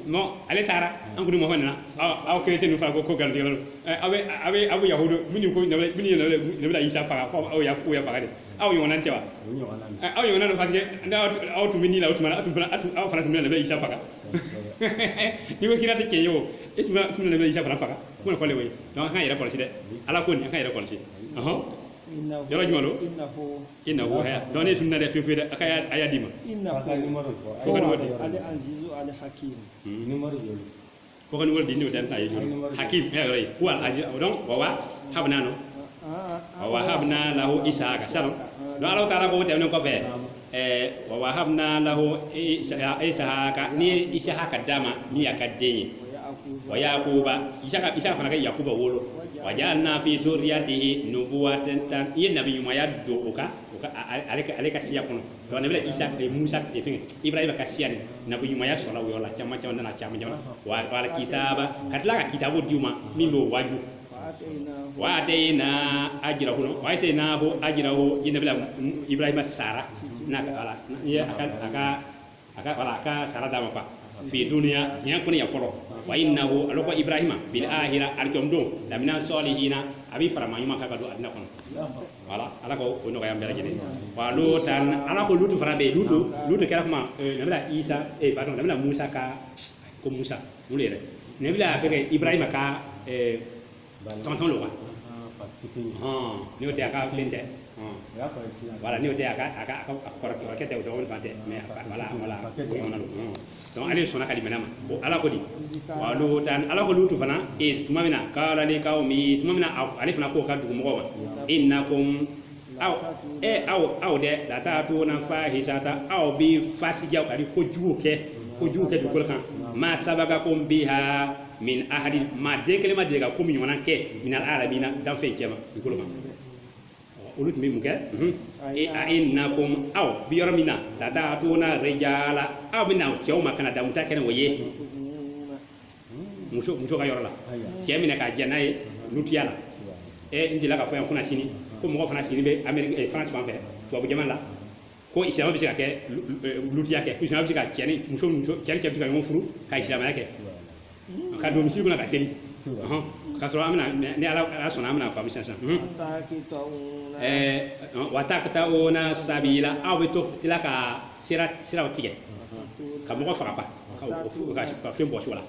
Speaker 1: non ale taara an kɔni mɔgɔ nana aw chrétien ninnu fana ko nkalontigɛla don aw bɛ aw bɛ aw bɛ yahudu minnu ko minnu ye nabi isa faga ko aw y'a faga de aw ɲɔgɔnna tɛ wa aw ɲɔgɔnna don paseke aw tun bɛ ni la o tuma aw tun aw fana tun bɛ nabi isa faga n'i ko kira tɛ cɛ ye o e tun tun nabi isa fana faga fo ne kɔlen o ye an ka yɛrɛ kɔlɔsi dɛ ala ko nin an ka yɛrɛ kɔlɔsi yɔrɔ jumɛn don innahu haya dɔn ne sun na dɛ fefe dɛ a ka y'a- a y'a di ma inna Ka taa numéro fɔ. Fo ka numéro di. ali azizu ali hakim Numéro de don. ko ka numéro di n'o tɛ n t'a ye jɔrɔ hakim ɛ yɔrɔ ye ko al aziz donc wa wahabna no wa wahabna lahu isaka sanu donc ala taala ko tɛmɛnen kɔfɛ ɛɛ wa wahabna lahu isaka ne ye isaka d'a ma min y'a ka den ye wa yakuba isaka fana ka yakuba wolo wa ja'alna fi zurriyatihi nubuwata ne ye nabiɲumaya don o kan o ka a- a- ale ka ale ka siya kɔnɔ donc nabi isa eh, musa eh, fɛnkɛ ibrahima ka siya nin nabiɲumaya sɔrɔla o yɔrɔ la caman caman nana caman caman wa wal kitaba ka tila ka kitabu di u ma min b'o waju wa atayna ajrahu no wa ataynahu ajrahu n ye nabila ibrahima sara na ka ala ye a ka a ka a ka voilà a ka sara d'a ma quoi fi duniya diɲɛ kɔnɔ yan fɔlɔ wa innahu ale ko ibrahima bil ahira alkiyama don lamina sɔlihina a bɛ fara maa ɲumanw kan ka don arijana kɔnɔ voilà ala ka o nɔgɔya an bɛɛ lajɛlen wa lutan ala ko lutu fana bɛ yen lutu lutu kɛra kuma eh, nabila isa eh, pardon nabila musa ka ko musa mun yɛrɛ nabila fɛnkɛ ibrahima ka eh, tonton don wa n'o tɛ a ka fɛn tɛ voilà n'o tɛ a ka a ka kɔrɔkɛ tɛ o dɔgɔnin fana tɛ mais voilà voilà ale sɔnna ka limaniya ma bon ala ko di wa lutan ala ko lutu fana iz tuma min na kala li kawmi tuma min na ale fana k'o ka dugu mɔgɔw ma innakum aw e aw aw dɛ lata'tuna fahisata aw bɛ fasijaw ani ko jugu kɛ ko jugu kɛ dugukolo kan ma sabakakum biha min ahadi maa den kelen ma deli ka ko min ɲɔgɔnna kɛ minal alamina danfɛnw cɛma dugukolo kan olu tun bɛ mun kɛ e a innakum aw bi yɔrɔ min na lata'tuna rijala aw bɛ na cɛw ma ka na damu ta kɛ n'o ye muso muso ka yɔrɔ la cɛ minɛ ka jɛ n'a ye lutiya la ɛ n delila k'a fɔ yan kunasini ko mɔgɔ fana sigilen bɛ ameriki faransi fan fɛ tubabu jamana la ko silamɛ bɛ se ka kɛ lutiya kɛ ko silamɛ bɛ se ka cɛ ni muso muso cɛ cɛ bɛ se ka ɲɔgɔn furu ka silamɛya kɛ ka don misiri kɔnɔ ka seli ɔhɔn ka sɔrɔ an bɛna mɛ- ni ala ala sɔnna an bɛna faamu sisan mhm. Ɛɛ, ɔn, wa takta'una sabila aw bɛ to tila ka sira siraw tigɛ ka mɔgɔ faga quoi, ka, ka, ka fɛn bɔsi u la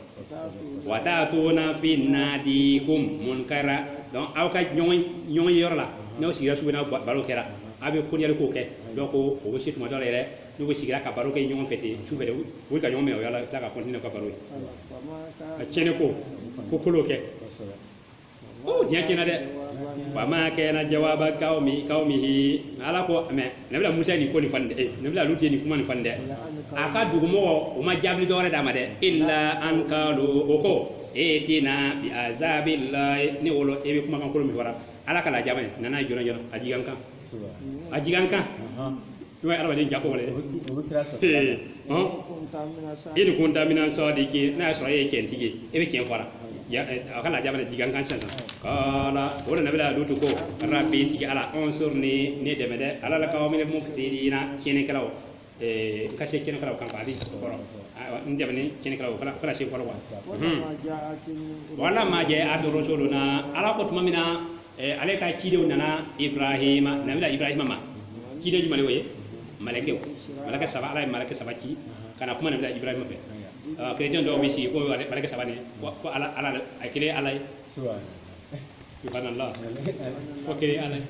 Speaker 1: wa tatuna fi nadikum munkara donc aw ka ɲɔgɔn ɲɔgɔn ye yɔrɔ la n'aw sigira su fɛ n'a ba- baro kɛra aw bɛ koniyali ko kɛ donc o bɛ se tuma dɔ la yɛrɛ n'u bɛ sigira ka baro kɛ ɲɔgɔn fɛ ten su fɛ de u bɛ ka ɲɔgɔn minɛ o yɔrɔ la u bɛ tila ka continuer ka baro ye a tiɲɛni ko ko kolon kɛ ko diɲɛ tiɲɛna dɛ fama kana jawaba kawmi kawmihi ala ko mais nabila musa nin ko nin fan dɛ nabila lutu nin kuma nin fan dɛ a ka dugumɔgɔ o ma jaabi dɔwɛrɛ d'a ma dɛ illa an kalu o ko itina bi azabillahi ne wolo e bɛ kumakan kolon min fɔra ala ka lajaba ye nana joona joona a jigi an kan a jigi an kan n'o ye adamaden jako wale dɛ in kunta mina sadiki n'a y'a sɔrɔ e ye cɛntigi ye e bɛ cɛn fɔra a ka lajaba de jigi an kan sisan kala o de nabila lutu ko rabbi n tigi ala unsurni ne dɛmɛ dɛ alal kawmil mufsidina tiɲɛnikɛlaw ka se tiɲɛnikɛlaw kan ale kɔrɔ n dɛmɛ tiɲɛnikɛlaw kana kana se kɔrɔ wa walamma jaat rusuluna ala ko tuma min na eh, ale ka cidenw nana ibrahima nabila ibrahima ma ciden jumɛn de y'o ye malakɛw malakɛ saba ala ye malakɛ saba ci ka na kuma nabila ibrahima fɛ Ɔ, kerecɛn dɔw bɛ sigi ko ale- malakɛ saba nin ko ko ala ala a kelen ye ala ye subhanallah ko kelen ye ala ye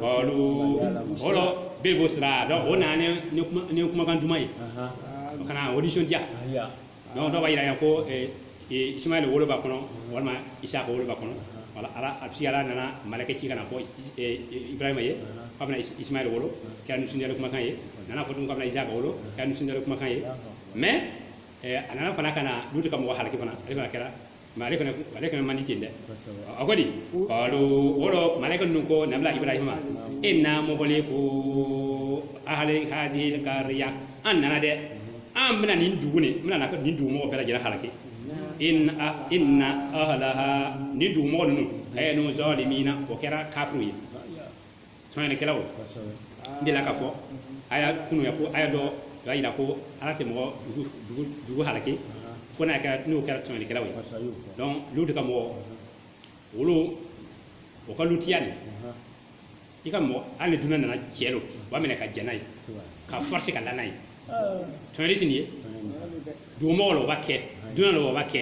Speaker 1: olu o lɔ bil busra donc o nana ni ni kuma- ni kumakan duman ye o ka na a nisɔndiya donc dɔw b'a yira ko ismail wolo b'a kɔnɔ walima isaka wolo b'a kɔnɔ wala ala paseke ala nana malakɛ ci ka n'a fɔ ibrahima ye k'a bɛna ismail wolo kɛra nisɔndiyalen kumakan ye nana fɔ tugun k'a bɛna isaka wolo kɛra nisɔndiyalen kumakan ye mais a nana fana ka na lutu ka mɔgɔ halaki fana ale fana kɛra mais ale fana ale fana man di ten dɛ a ko di kalu olu malakɛ ninnu ko nabila ibrahima inna muhliku ahli hazihi kariya an nana dɛ an bɛna nin dugu nin n bɛna nin dugu mɔgɔ bɛɛ lajɛlen halaki in inna ahlaha nin dugu mɔgɔ ninnu kanu zalimina o kɛra kafiriw ye tɔɲɔlikɛlaw n delila k'a fɔ aw ye kunun yan ko aya dɔ o y'a yira ko ala tɛ mɔgɔ dugu dugu dugu halaki fo n'a kɛra n'o kɛra tɔɲɔlikɛlaw ye donc lutu ka mɔgɔ olu o ka lutiya nin i ka mɔgɔ hali ni dunan nana cɛ lo u b'a minɛ ka jɛn n'a ye ka forcer ka la n'a ye tɔɲɔli tɛ nin ye dugumɔgɔ la o b'a kɛ dunan la o b'a kɛ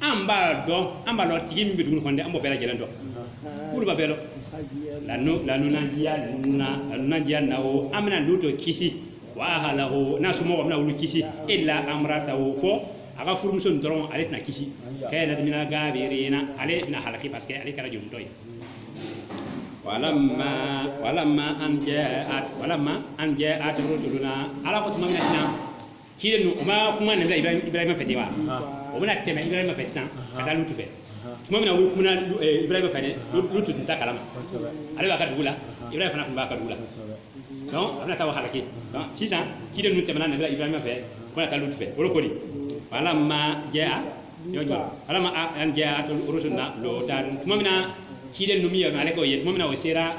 Speaker 1: an b'a dɔn an b'a dɔn tigi min bɛ dugu kɔnɔ dɛ an b'o bɛɛ lajɛlen dɔn k'olu b'a bɛɛ dɔn lanunajiya nuna lanunajiyannahu an bɛna lutu kisi wa ahlahu n'a somɔgɔw bɛna olu kisi illa amratahu fo a ka furumuso nin dɔrɔn ale tɛna kisi kanat mina gabirina ale bɛna halaki paseke ale kɛra jolitɔ ye walama walama an jɛ walama an jaat rusuluna ala ko tuma min na Kiden ninnu o ma kuma nabila ibrahima fɛ de wa o bɛna tɛmɛ ibrahima fɛ sisan ka taa lutu fɛ tuma min na u kuma ibrahima fɛ lutu tun t'a kalama ale b'a ka dugu la ibrahima fana tun b'a ka dugu la donc a bɛna taa o halaki donc sisan kiden ninnu tɛmɛna nabila ibrahima fɛ k'o na taa lutu fɛ o ko di walama jaat walama an jaat rusuluna lutan tuma min na kiden ninnu min ye ale ko ye tuma min na o sera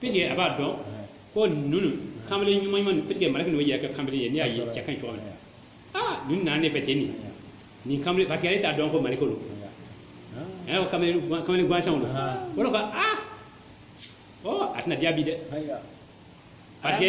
Speaker 1: puisque a b'a dɔn ko ninnu kamalen ɲuman ɲuman ninnu puisque maliki n'o yɛrɛ kɛ kamalen ye n'i y'a ye cɛ ka ɲi cogo min na aa ninnu nana ne fɛ ten nin nin kamalen parce que ale t'a dɔn ko maliki don ɛɛ ko kamalen kamalen gansanw don o de ko aa ɔ a tɛna diya bi dɛ parce que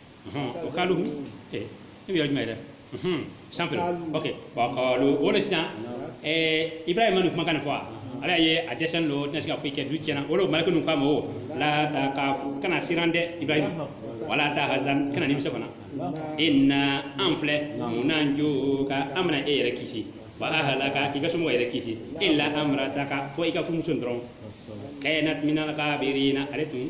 Speaker 1: Ɔhɔn, wa kalu eh, e bɛ yɔrɔ jumɛn yɛrɛ Ɔhɔn, san fila Kalo. ok wa kalu o de sisan eh, ibrahima nin kumakan nin fɔ wa ala ye a dɛsɛlen don o tɛna se ka foyi kɛ du tiɲɛna o de maliki ninnu k'a ma o la takaf kana siran dɛ ibrahima wala tahazan kana nimisa fana inna an filɛ munajuka an bɛna e yɛrɛ kisi wa ahalaka k'i ka somɔgɔw yɛrɛ kisi ila amarataka fo i ka furumuso in dɔrɔn kanat minal gabirina ale tun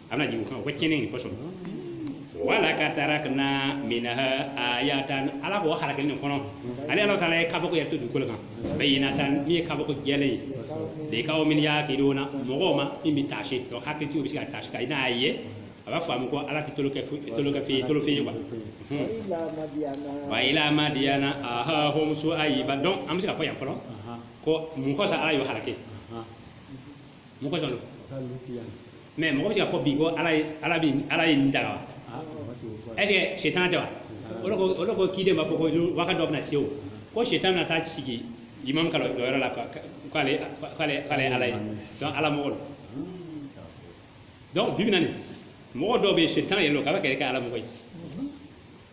Speaker 1: a bɛna jigin o kan ko tiɲɛni nin kosɔn walakad tarakna minha ayatan ala k'o halakili nin kɔnɔ ale ala taala ye kabako yɛrɛ to dugukolo kan bayinatan min ye kabako jɛlen ye likawmin yakiluna mɔgɔw ma min bɛ taasi donc hakilitigiw bɛ se ka taasi ka i n'a ye a b'a faamu ko ala tɛ tolonkɛ fo- tolonkɛfɛn ye tolonfɛn ye wa wa ila madiyana ahahum suwayiba donc an bɛ se ka fɔ yan fɔlɔ ko mun kosɔn ala y'o halaki mun kosɔn lo mais mɔgɔ bɛ se ka fɔ bi ko ala ye ala bi ala ye nin danga wa est-ce que sitan tɛ wa olu ko kiden b'a fɔ ko wagati dɔ bɛna se o ko sitan na taa sigi imamu ka lɔyɔrɔ la k'ale k'ale ala ye ala mɔgɔ donc bi bi nin na mɔgɔ dɔw bɛ yen sitan yɛrɛ don k'a b'a yɛrɛ kɛ ala mɔgɔ ye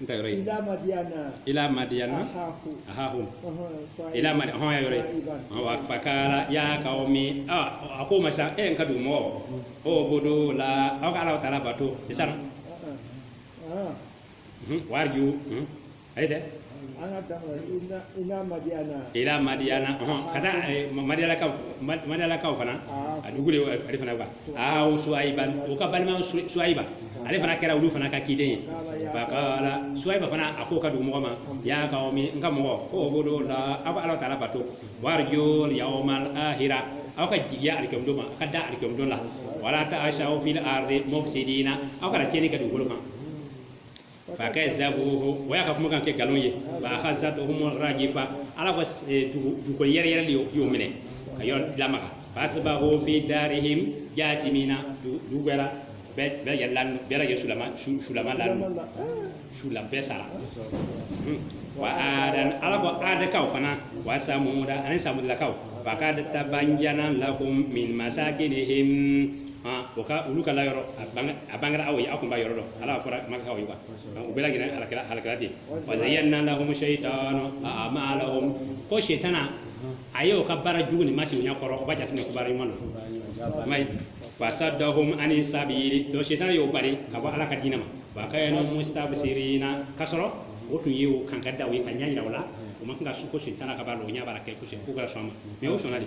Speaker 1: n ta yɔrɔ ye ila madiyana
Speaker 2: ila madiyana
Speaker 1: ahahum ila madi hɔn ya yɔrɔ ye wa fakala ya kawmi a a ko ma sa n ka dugu mɔgɔ ubudula aw ka ala taala bato sisan warju ayi dɛ an ka dafa ila madiyana ila madiyana hɔn ka taa madiyanakaw madiyanakaw fana a dugu de ale fana quoi ahahum suwayiba o ka balima suwayiba ale fana kɛra olu fana ka kiden ye fakala suwayiba fana a ko ka dugu mɔgɔ ma ya kawmi n ka mɔgɔ ubudula aw ka ala taala bato warjul yawmal ahira aw ka jigiya alikiyama don ma aw ka da alikiyama don la wala taasaw fil arde mufisidina aw kana tiɲɛni kɛ dugukolo kan fakazabuhu o y'a ka kuma kan kɛ nkalon ye fa akazatuhumu rajifa ala ko dugu yɛrɛ yɛrɛ de y'o minɛ ka yɔrɔ lamaga fa asbahu fi darihim jasimina dugu bɛɛ la bɛɛ bɛɛ yɛrɛ la bɛɛ lajɛ sulama su- sulama la sula bɛɛ sara Hmm. wa adan ala ko adakaw fana wa samuda ani samudakaw wa kad tabayana lakum min masakinihim o ka olu ka yɔrɔ a bangera aw ye aw tun b'a yɔrɔ dɔn ala fɔra makakaw ye wa u bɛɛ lajɛlen halakira ten wa zayana lahumu sayitanu amalahum ko sitana a ye o ka baara jugu nin masiri ɲɛ kɔrɔ o b'a jate ko baara ɲuman don fasadahum ani sabili to sitana y'o bali ka bɔ ala ka diinɛ ma wa kanu mustabsirina ka sɔrɔ o tun ye o kan ka da o ye ka ɲɛ jira o la o man kan ka su ko sitana ka b'a la o ɲɛ b'a kɛ kosɛbɛ k'u ka sɔn ma mɛ o sɔnna de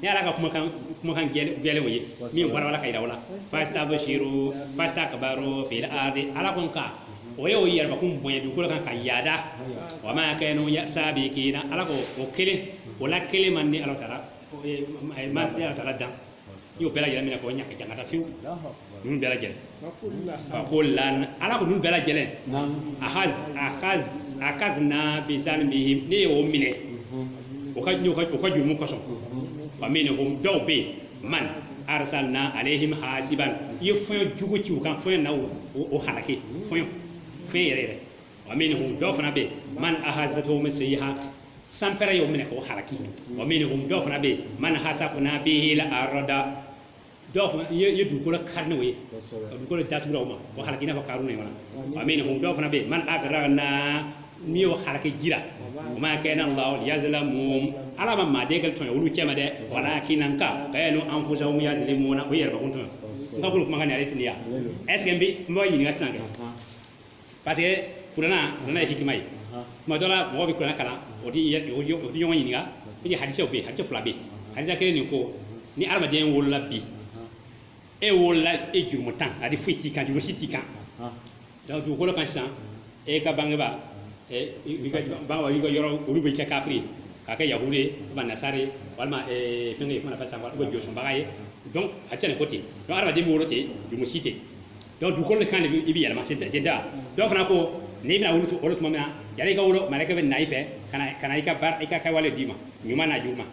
Speaker 1: ni ala ka kumakan kumakan gɛlenw ye min wala k'a yira o la fastabsiru fastakbaru fil ardi ala ko nka o ye o yɛrɛ bakun bonya dugukolo kan ka yaada wa ma kanu sabikina ala ko o kelen o la kelen ma ne ala taala ma ala taala dan n y'o bɛɛ lajɛlen minɛ k'o ɲa ka jangata fewu ninnu bɛɛ lajɛlen fakulan ala ko ninnu bɛɛ lajɛlen aka aka akazana bizanbihi ne y'o minɛ o ka o ka o ka jurumu kosɔn fa min hum dɔw bɛ yen man arsalna alehim hasiban n ye fɔɲɔ jugu ci u kan fɔɲɔ na o o halaki fɔɲɔ yɛrɛ yɛrɛ wa min hum dɔw fana bɛ yen man ahazatuhumu sayha sanpɛrɛn y'o minɛ k'o halaki wa min hum dɔw fana bɛ yen man hasafna bihil arada dɔw fana n ye n ye dugukolo kari n'o ye kosɛbɛ ka dugukolo datugu o ma o halaki n'a fɔ karuna in kɔnɔ wa min hum dɔw fana bɛ yen man agarakana ne y'o halaki ji la wa ma kana ala liyazalimahum ala ma maaden kelen tɔɲɔ olu cɛma dɛ walakin kanu anfusahum yazalimuna o yɛrɛ bakun tɔɲɔ n ka bolo kuma ka n arrêter yan est-ce que n bɛ n b'a ɲininka sisan kɛ parce que kurana kurana ye hikima ye tuma dɔ la mɔgɔ bɛ kurana kalan o tɛ yɛ- o tɛ o tɛ ɲɔgɔn ɲininka parce que hadisaw bɛ yen hadisa fila bɛ yen hadisa kelen nin ko ni adamaden wolola bi e wolola e jurumuntan de foyi t'i kan jurumu si t'i kan donc dugukolo kan sisan e ka bangebaa e i ka bangebaa i ka yɔrɔ olu b'i kɛ kafiri ye k'i kɛ yahudu ye walima nasara ye walima eh, fɛnkɛ ye kuma na fasa walima josɔnbaga ye donc a tɛ se ka nin ko ten donc adamaden bɛ wolo ten jurumu si tɛ donc dugukolo de kan de i bɛ yɛlɛma c'est-à-dire dɔ fana ko n'i bɛna wolo tuma min na yanni i ka wolo malɛkɛ bɛ na i fɛ ka na ka na i ka baara i ka kɛwale d'i ma ɲuman n'a juguman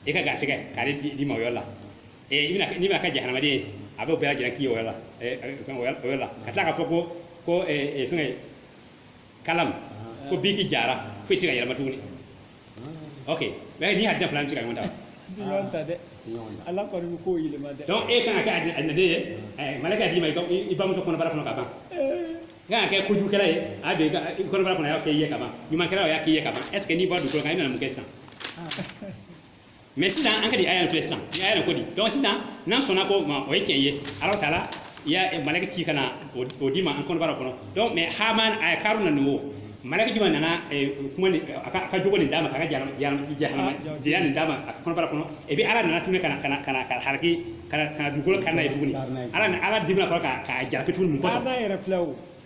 Speaker 1: i ka garisɛgɛ k'ale d'i ma o yɔrɔ la i bɛna n'i bɛna kɛ jahanamaden ye a b'o bɛɛ lajɛlen k'i yɔrɔ la o yɔrɔ la ka tila k'a fɔ ko ko fɛngɛ kalam ko biki jara foyi tɛ ka yɛlɛma tuguni ok mais nin hadisa fila tɛ ka ɲɔgɔn ta wa? Ti ɲɔgɔn ta dɛ
Speaker 2: ɲɔgɔn na ala kɔni bɛ k'o yɛlɛma dɛ donc e kan ka kɛ
Speaker 1: alijɛnɛden ye eh, malaka d'i ma i ka- i i bamuso kɔnɔbara kɔnɔ ka ban i kan ka kɛ kojugukɛla ye a bɛ i ka- i kɔnɔbara kɔnɔ a y'a kɛ i ye ka ban ɲumankɛla o y'a k'i ye ka ban est ce que n'i bɔra dugukolo kan i nana mun kɛ sisan mais sisan an ka nin aya filɛ sisan ni aya ko di donc sisan n'an sɔnna ko ma o ye tiɲɛ ye ala taala ye malaka ci ka na o d'i ma an kɔnɔbara kɔnɔ donc mais haman ani karuna nin o malaka jumɛn nana kuma ni a ka jogo nin d'a ma a ka jahanamadenya nin d'a ma a kɔnɔbara kɔnɔ et puis ala nana tuguni ka na ka na ka na ka halaki ka na dugukolo kari n'a ye tuguni ala ala dimina a kɔrɔ k'a jalaki tuguni mun kɔsɔn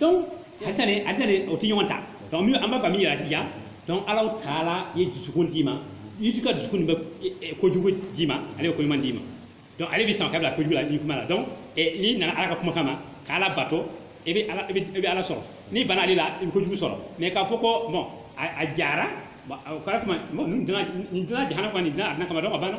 Speaker 1: donc hadisa nin hadisa nin o tɛ ɲɔgɔn ta donc min an b'a fɛ ka min yira sisan donc ala taala ye dusukun d'i ma i ti ka dusukun nin bɛ e- e- kojugu d'i ma ale bɛ ko ɲuman d'i ma donc ale bɛ se k'i bila kojugu la ni ko ɲuman la donc eh, n'i nana ala ka kumakan ma ka ala bato i bɛ ala i bɛ i bɛ ala sɔrɔ n'i bana ale la i bɛ kojugu sɔrɔ mais k'a fɔ ko bon a a jara bon o kɛra tuma bon nin danna nin danna jahanama kama nin danna alijɛnɛ kama donc a banna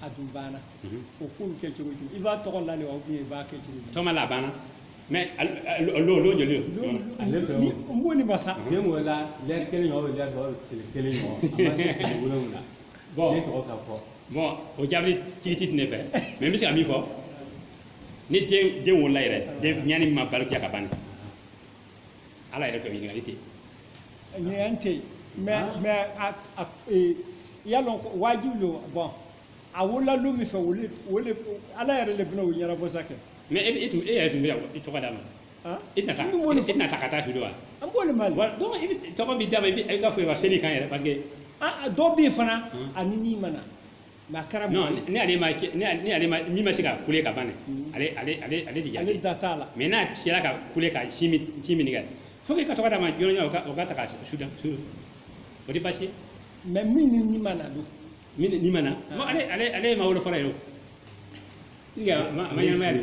Speaker 2: a dun banna o ko bɛ kɛ cogo di i b'a tɔgɔ la de wa i b'a kɛ cogo di tɔgɔma la a
Speaker 1: banna mais lon joli ale fɛ
Speaker 3: n b'o ni masa
Speaker 2: den wolola lɛri
Speaker 3: kelen o lɛri dɔ kelen kelen ɲɔgɔn na bon den tɔgɔ ka fɔ bon o
Speaker 1: jaabi tigiti tɛ ne fɛ mais n bɛ se ka min fɔ ni den wolola yɛrɛ denɲɛnin ma balikuya ka ban ala yɛrɛ fɛ ɲininkali tɛ
Speaker 2: ɲininkali tɛ mais mais a a ee y'a dɔn wajibi don bon a wolola don min fɛ voilà voilà ala yɛrɛ de bɛna o ɲɛnabɔ sa kɛ mais e e tun e
Speaker 1: yɛrɛ tun bɛ i tɔgɔ d'a ma e tɛna taa e tɛna taa ka taa fili wa an b'o de
Speaker 2: ma donc i bɛ tɔgɔ b'i
Speaker 1: d'a ma i bɛ i ka fɔ ka seli a kan yɛrɛ parce que dɔw bɛ yen
Speaker 2: fana ani ni ma na a
Speaker 1: kɛra min ma se ka kule ka ban ale de ale da t'a la mais n'a
Speaker 2: sera ka
Speaker 1: kule ka sin min kɛ fo ka tɔgɔ d'a ma jɔn o ka taa k'a su don o tɛ basi mais
Speaker 2: min ni ma na don min ni ma na
Speaker 1: ale ma wolo fɔlɔ yɛrɛ o ma ɲɛnamaya de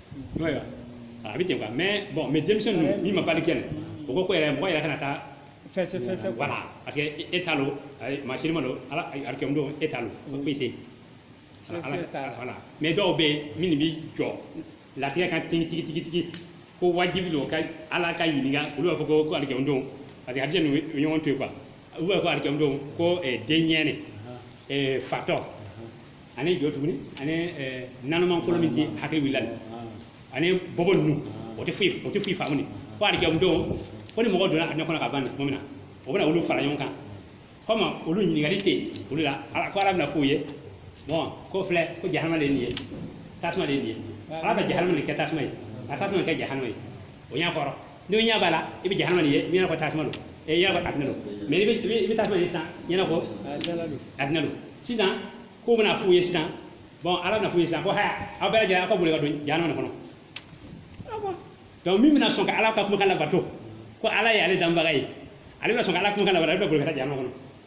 Speaker 1: n'o ye a bɛ ten quoi mais bon mais denmisɛn ninnu min ma baliku nin o ko ko yɛrɛ mɔgɔ yɛrɛ kana taa fɛsɛ fɛsɛ voilà
Speaker 2: parce que
Speaker 1: e t'a lɔn maa si m'a dɔn ala alikiyama don e t'a lɔn o foyi tɛ yen voilà mais dɔw bɛ yen min bɛ jɔ latigɛ kan tigi tigi tigi tigi ko wajibi don ka ala ka ɲininka olu b'a fɔ ko ko alikiyama don parce que hadisa ɲɔgɔn to yen quoi olu b'a fɔ alikiyama don ko denɲɛnin fatɔ ani jɔn tuguni ani naloman kolo min ti hakili wulila ani bobo ninnu o tɛ foyi o tɛ foyi faamu ko alikiyama don ko ni mɔgɔ donna alijɛnɛ kɔnɔ ka ban tuma min na o bɛna olu fara ɲɔgɔn kan comme olu ɲininkali tɛ yen olu la ala ko ala bɛna f'u ye bon ko filɛ ko jahanama de ye nin ye tasuma de ye nin ye ala bɛ jahanama de kɛ tasuma ye ka tasuma kɛ jahanama ye o y'a kɔrɔ n'o ɲɛ b'a la i bɛ jahanama nin ye i ɲɛna ko tasuma don i ɲɛna ko adina don mais i bɛ tasuma ye sisan ɲɛna ko adina don sisan k'o bɛna f'u ye sisan bon ala bɛna f'u ye sisan ko haya aw bɛɛ lajɛlen aw ka boli ka don jahanama nin kɔnɔ donc min bɛna sɔn ka ala ka kumakan labato ko ala ye ale danbaga ye ale bɛna sɔn ka ala kumakan labato ale bɛ boli ka taa jahanama kɔnɔ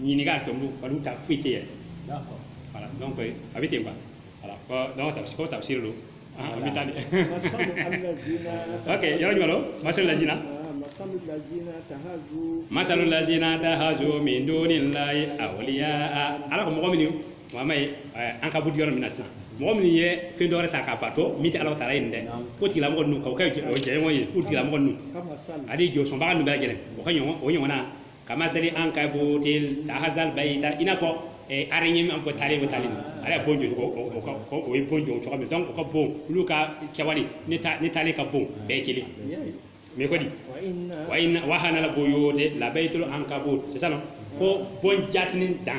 Speaker 1: ɲininka a tɔ olu ta foyi tɛ yɛrɛ voilà donc a bɛ ten quoi ko tafsir don an bɛ taa de ok yɔrɔ jumɛn lo masalu lazina masalu lazina tahazu min dunillahi awliya ala ko mɔgɔ minnu ma ye an ka bɔ yɔrɔ min na sisan mɔgɔ minnu ye fɛn dɔwɛrɛ ta k'a bato min tɛ ala taala ye nin dɛ ko tigilamɔgɔ ninnu k'o kɛ jɛɲɔgɔn ye ko tigilamɔgɔ ninnu ani jɔsɔnbaga ninnu bɛɛ lajɛlen o ka ɲɔgɔn o ɲɔgɔnna kamasalil ankabuti tahazat bayita i n'a fɔ eh, araignée min an ko talen bɛ talen na ale ye bon jɔ cogo o- o ka- o- o ye bon jɔ cogo min donc o ka bon olu ka kɛwale ni ta- ni talen ka bon bɛɛ ye kelen ye mais ko di wa inna awhanal buyuti la baytul ankabut c'est ça non ko bon jaasinin dan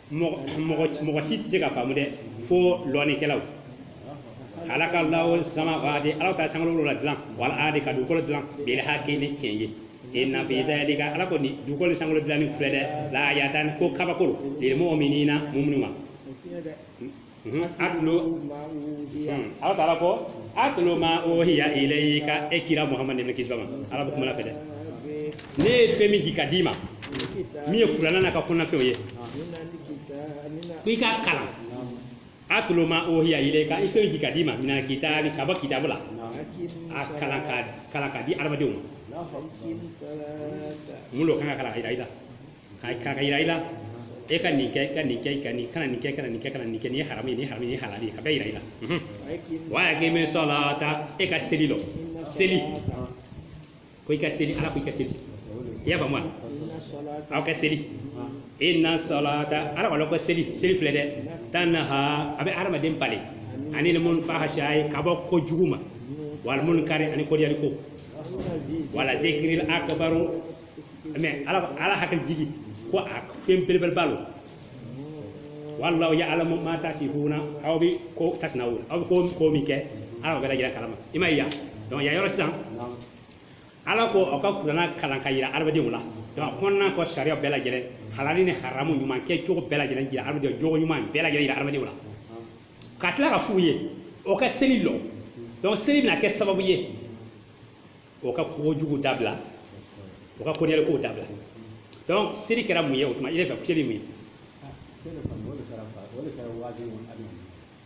Speaker 1: mɔgɔ si tɛ se ka faamu dɛ fo lɔnnikɛlaw halakallahu samawati ala ka sankolo ladilan wal ardi ka dugukolo dilan bil hakki ni tiɲɛ ye inna fi zalika ala ko ni dugukolo ni sankolo dilanni filɛ dɛ la ayatan ko kabako lo lil muminina muminuw ma utlu ala taala ko utlu ma uhiya ilayka e kira muhammad ni kisi b'a ma ala bɛ kuma la fɛ dɛ ne ye fɛn min jigi ka d'i ma min ye kuranna n'a ka kɔnɔnafɛnw ye ko i k'a kalan utlu ma uhiya ilayka i fɛn min jigi ka d'i ma minal kitabi ka bɔ kitabu la a kalan ka kalan ka di adamadenw ma mun de kan ka kalan ka yira i la ka kan ka yira i la e ka nin kɛ ka nin kɛ ka nin kana nin kɛ kana nin kɛ kana nin kɛ nin ye haramu ye nin haramu ye halali ye ka bɛɛ yira i la wa akimi salata e ka seli lɔ seli ko i ka seli ala ko i ka seli i y'a faamu wa aw ka seli inna salata ala kɔni ko seli seli filɛ dɛ tanha a bɛ hadamaden bali anil mun- fahashai ka bɔ ko jugu ma wal munkari ani kodiyali ko wala zikiri akbaru mais ala ala hakili jigi ko a fɛn belebeleba don wallahu yaalamu ma tasifuna aw bɛ ko tasnawuna aw bɛ ko ko min kɛ ala b'a lajɛlen kalama i m'a ye yan donc yan yɔrɔ sisan ala ko aw ka kuranna kalan ka yira adamadenw la donc a kɔnɔnako sariya bɛɛ lajɛlen halali ni haramu ɲuman kɛcogo bɛɛ lajɛlen jira adamadenw jogo ɲuman bɛɛ lajɛlen jira adamadenw la ka tila ka f'u ye o ka seli lɔ donc seli bɛna kɛ sababu ye o ka kojugu dabila o ka kɔniyali kow dabila donc seli kɛra mun ye o tuma i yɛrɛ fɛ seli mun ye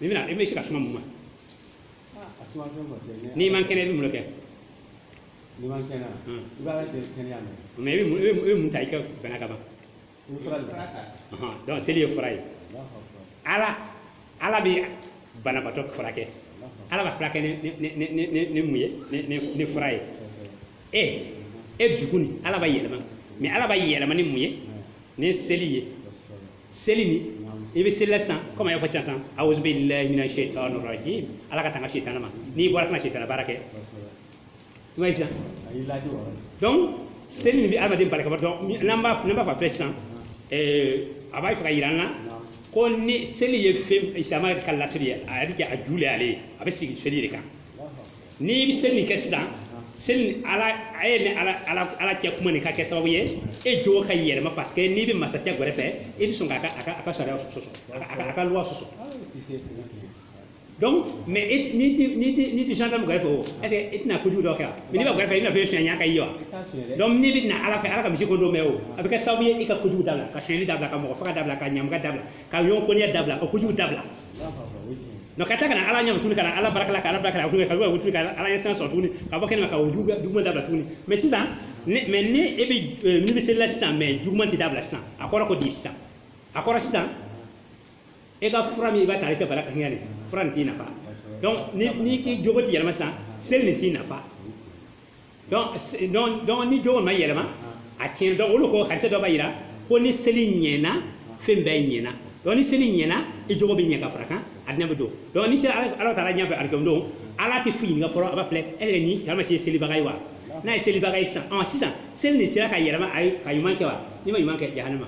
Speaker 1: i bɛna i bɛ se ka suma mun ma n'i man kɛnɛ i bɛ
Speaker 3: mun de kɛ mais i bɛ mun i bɛ mun- i bɛ
Speaker 1: mun ta i ka bana kama donc seli ye fura ye ala ala bɛ banabatɔ furakɛ ala b'a furakɛ ni mun ye ni fura ye e e jogo nin ala b'a yɛlɛma mais ala b'a yɛlɛma ni mun ye ni seli ye seli ni i bɛ seli la sisan komi a y'a fɔ sisan sisan awuzu bilahi mina shaitanir rajim ala ka tanga shaitan ma n'i bɔra kana shaitan baara kɛ i b'a ye sisan a y'i laadi o yɔrɔ la donc seli nin bɛ adamaden bali ka bɔ donc mi- n'an b'a n'an b'a fɔ a filɛ sisan ɛɛ a b'a fɛ ka yira an na Naam. ko ni seli ye fɛn isilamu kala seli ye a yɛrɛ kɛ a ju le y'ale ye a bɛ sigi seli de kan Allahu akbar. n'i bɛ seli nin kɛ sisan seli nin ala a ye ni ala ala ala cɛ kuma nin ka kɛ sababu ye e jogo ka yɛlɛma parce que n'i bɛ masacɛ gɛrɛfɛ i tɛ sɔn k'a ka a ka a ka sariya sɔsɔ a ka- a ka a ka loi sɔsɔ Ayi, i tɛ- i tɛ- donc mais e n'i ti n'i ti n'i ti gendarme gɛrɛfɛ o est-ce que e tɛna kojugu dɔ kɛ yan mais n'i bɛ gɛrɛfɛ i n'a fɔ sonyali kɛ yen wa donc n'i bɛ na ala fɛ ala ka misiri kɔnɔ mais o a bɛ kɛ sababu ye i ka kojugu dabila ka sonyali dabila ka mɔgɔ faga dabila ka ɲamɔgɔya dabila ka ɲɔgɔn kɔniya dabila ka kojugu dabila nka ka taa ka na ala ɲɛ tuguni ka na ala barika la ka ala barika la ka wuli tuguni ka ala ɲɛsiran sɔrɔ tuguni ka bɔ kɛnɛ ma ka o juguya juguman dabila tuguni mais sisan ni mais ni e bɛ n'i bɛ seli la sisan mais juguman tɛ dabila sisan a kɔrɔ ko di sisan a kɔrɔ sisan e ka fura min i b'a ta i ka bana kama de fura nin t'i nafa n'i k'i jogo ti yɛlɛma sisan seli nin t'i nafa ni jogo ma yɛlɛma a tiɲɛna donc o le ko hadisa dɔ b'a yira ko ni seli ɲɛna fɛn bɛɛ ɲɛna donc ni seli ɲɛna i jogo bɛ ɲɛ ka fara kan alijana bɛ don donc ni seli ala taara ɲɛfɛ alikiyama don ala tɛ foyi ɲininka fɔlɔ a b'a filɛ e yɛrɛ ni karama se selibaga ye wa n'a ye selibaga ye sisan sisan seli nin sera k'a yɛlɛma a ye ka ɲuman kɛ wa n'i ma ɲuman kɛ jahanama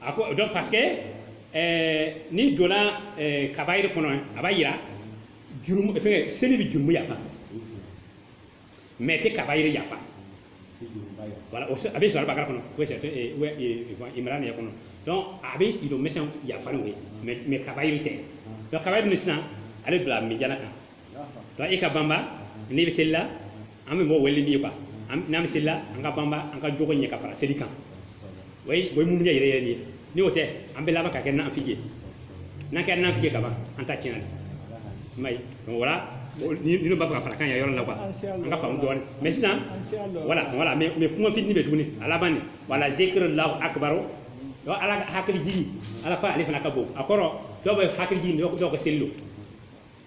Speaker 1: a ko donc parce que ɛɛ n'i donna ɛɛ kabayiri kɔnɔ a b'a yira jurumu fɛnkɛ seli bɛ jurumu yafa mais a tɛ kabayiri yafa voilà o se- a bɛ sɔrɔ bakara kɔnɔ o c'est ee wɛ ee imrana yɛrɛ kɔnɔ donc a bɛ i dɔ mɛsɛn yafa n'o ye mais mais kabayiri tɛ donc kabayiri nin sisan ale bila minjana kan donc i ka banba n'i bɛ seli la an bɛ mɔgɔ wele min ye quoi n'an bɛ seli la an ka banba an ka jogo ɲɛ ka fara seli kan o ye o ye muumini yɛrɛ yɛrɛ de ye ni o tɛ an bɛ laban ka kɛ nafiki ye n'an kɛra nafiki ye kaban an ta tiɲɛna i m'a ye donc voilà ni dɔ b'a fɛ ka fara kan ya yɔrɔ la quoi an ka faamu dɔɔnin mais sisan voilà voilà mais mais kuma fitini bɛ tuguni a laban de wala zikirulahi akibaru donc ala ka hakili jigi ala ko ale fana ka bon a kɔrɔ dɔw bɛ hakili jigi dɔw dɔw ka seli don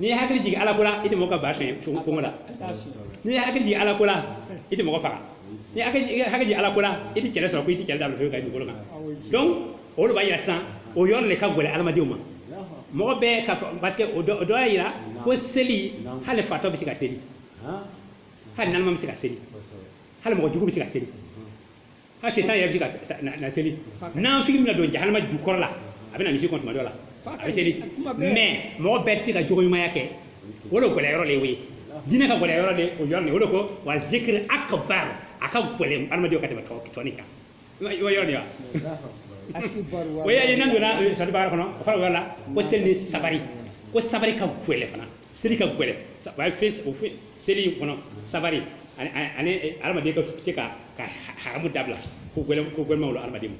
Speaker 1: n'i ye hakili jigin ala ko la i tɛ mɔgɔ ka ba sonya kɔngɔ la n'i ye hakili jigin ala ko la i tɛ mɔgɔ faga n'i ye hakili jigin ala ko la i tɛ kɛlɛ sɔrɔ ko i tɛ kɛlɛ dabila foyi ka dugukolo kan donc o de b'a yira sisan o yɔrɔ de ka gɛlɛn adamadenw ma mɔgɔ bɛɛ ka parce que o dɔ y'a yira ko seli hali fatɔ bɛ se ka seli hali naloma bɛ se ka seli hali mɔgɔ jugu bɛ se ka seli hali sitana yɛrɛ bɛ se ka na seli nanfigi min na don jahanama jukɔrɔ la a bɛ na misiri kɔnɔ tuma dɔ la a bɛ seli mais mɔgɔ bɛɛ tɛ se ka jogo ɲumanya kɛ o de gɛlɛya yɔrɔ de ye o ye diinɛ ka gɛlɛya yɔrɔ de o yɔrɔ de o de ko wa zikiri akbar a ka gɛlɛn adamadenw ka tɛmɛ tɔ nin kan i b'a yɔrɔ de wa o y'a ye n'an donna suratu bagara kɔnɔ o fana o yɔrɔ la ko seli ni sabari ko sabari ka gɛlɛn fana seli ka gɛlɛn sa- a ye fɛn o fɛn seli in kɔnɔ sabari ani ani ani hadamaden ka su- se ka ka ha- haramu dabila ko gɛlɛn ko gɛlɛnmaw lo hadamaden ma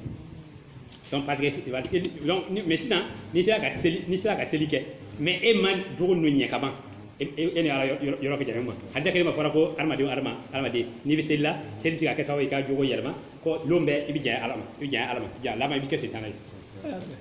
Speaker 1: donc parce que parce que donc ni- mais sisan n'i sera ka seli n'i sera ka seli kɛ mais e ma jogo ninnu ɲɛ ka ban e e- e ni ala yɔrɔ- yɔrɔ yɔrɔ bɛ janya ɲɔgɔn ma hadisi kelen ma fɔra ko hadamaden o hadama hadamaden n'i bɛ seli la seli ti ka kɛ sababu ye i ka jogo yɛlɛma ko lon bɛɛ i bɛ janya ala ma i bɛ janya ala ma janya laban i bɛ kɛ sitana ye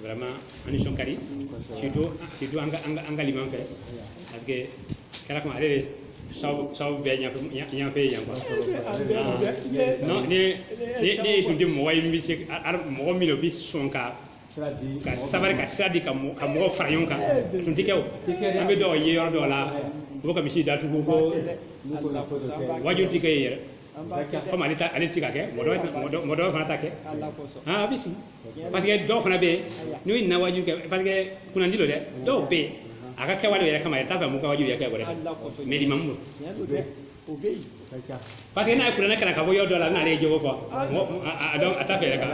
Speaker 1: vraiment an nisɔn ka di surtout surtout an ka an ka an ka liman fɛ parce que kɛra kuma ale de sababu sababu bɛɛ ɲɛfɛ ɲɛfɛ yan quoi non ne ne ne ye tun tɛ mɔgɔ ye min bɛ se ka ar- mɔgɔ min don o bɛ sɔn ka ka sabari ka sira di ka mɔ- ka mɔgɔw fara ɲɔgɔn kan o tun tɛ kɛ o an bɛ dɔw ye yɔrɔ dɔw la u bɛ ka misiri datugu ko waajuli tɛ kɛ yen yɛrɛ komi ale ta ale tɛ se ka kɛ mɔgɔ dɔ mɔgɔ dɔ- mɔgɔ dɔ fana ta kɛ aa a bɛ sigi parce que dɔw fana bɛ yen n'u ye na waajuli kɛ parce que kunnandi don dɛ dɔw bɛ yen a ka kɛwale yɛrɛ kama yɛrɛ t'a fɛ mɔgɔ ka waajuli yɛrɛ kɛ wɛrɛ mais limamu parce que n'a ye kuranɛ kalan ka bɔ yɔrɔ dɔ la a bɛna ale jogo fɔ a dɔn a t'a fɛ yɛrɛ ka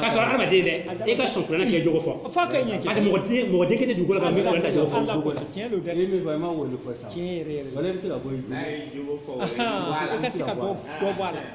Speaker 1: k'a sɔrɔ hadamaden dɛ e ka sɔn kuranɛ k'i jogo fɔ parce que mɔgɔ den mɔgɔ den kelen tɛ dugukolo kan min kuranɛ t'a jogo fɔ tiɲɛ don dɛ min
Speaker 2: fɔ i ma wolo fɔ sisan tiɲɛ yɛrɛ yɛrɛ wala i bɛ se ka bɔ i ka se ka bɔ bɔ a la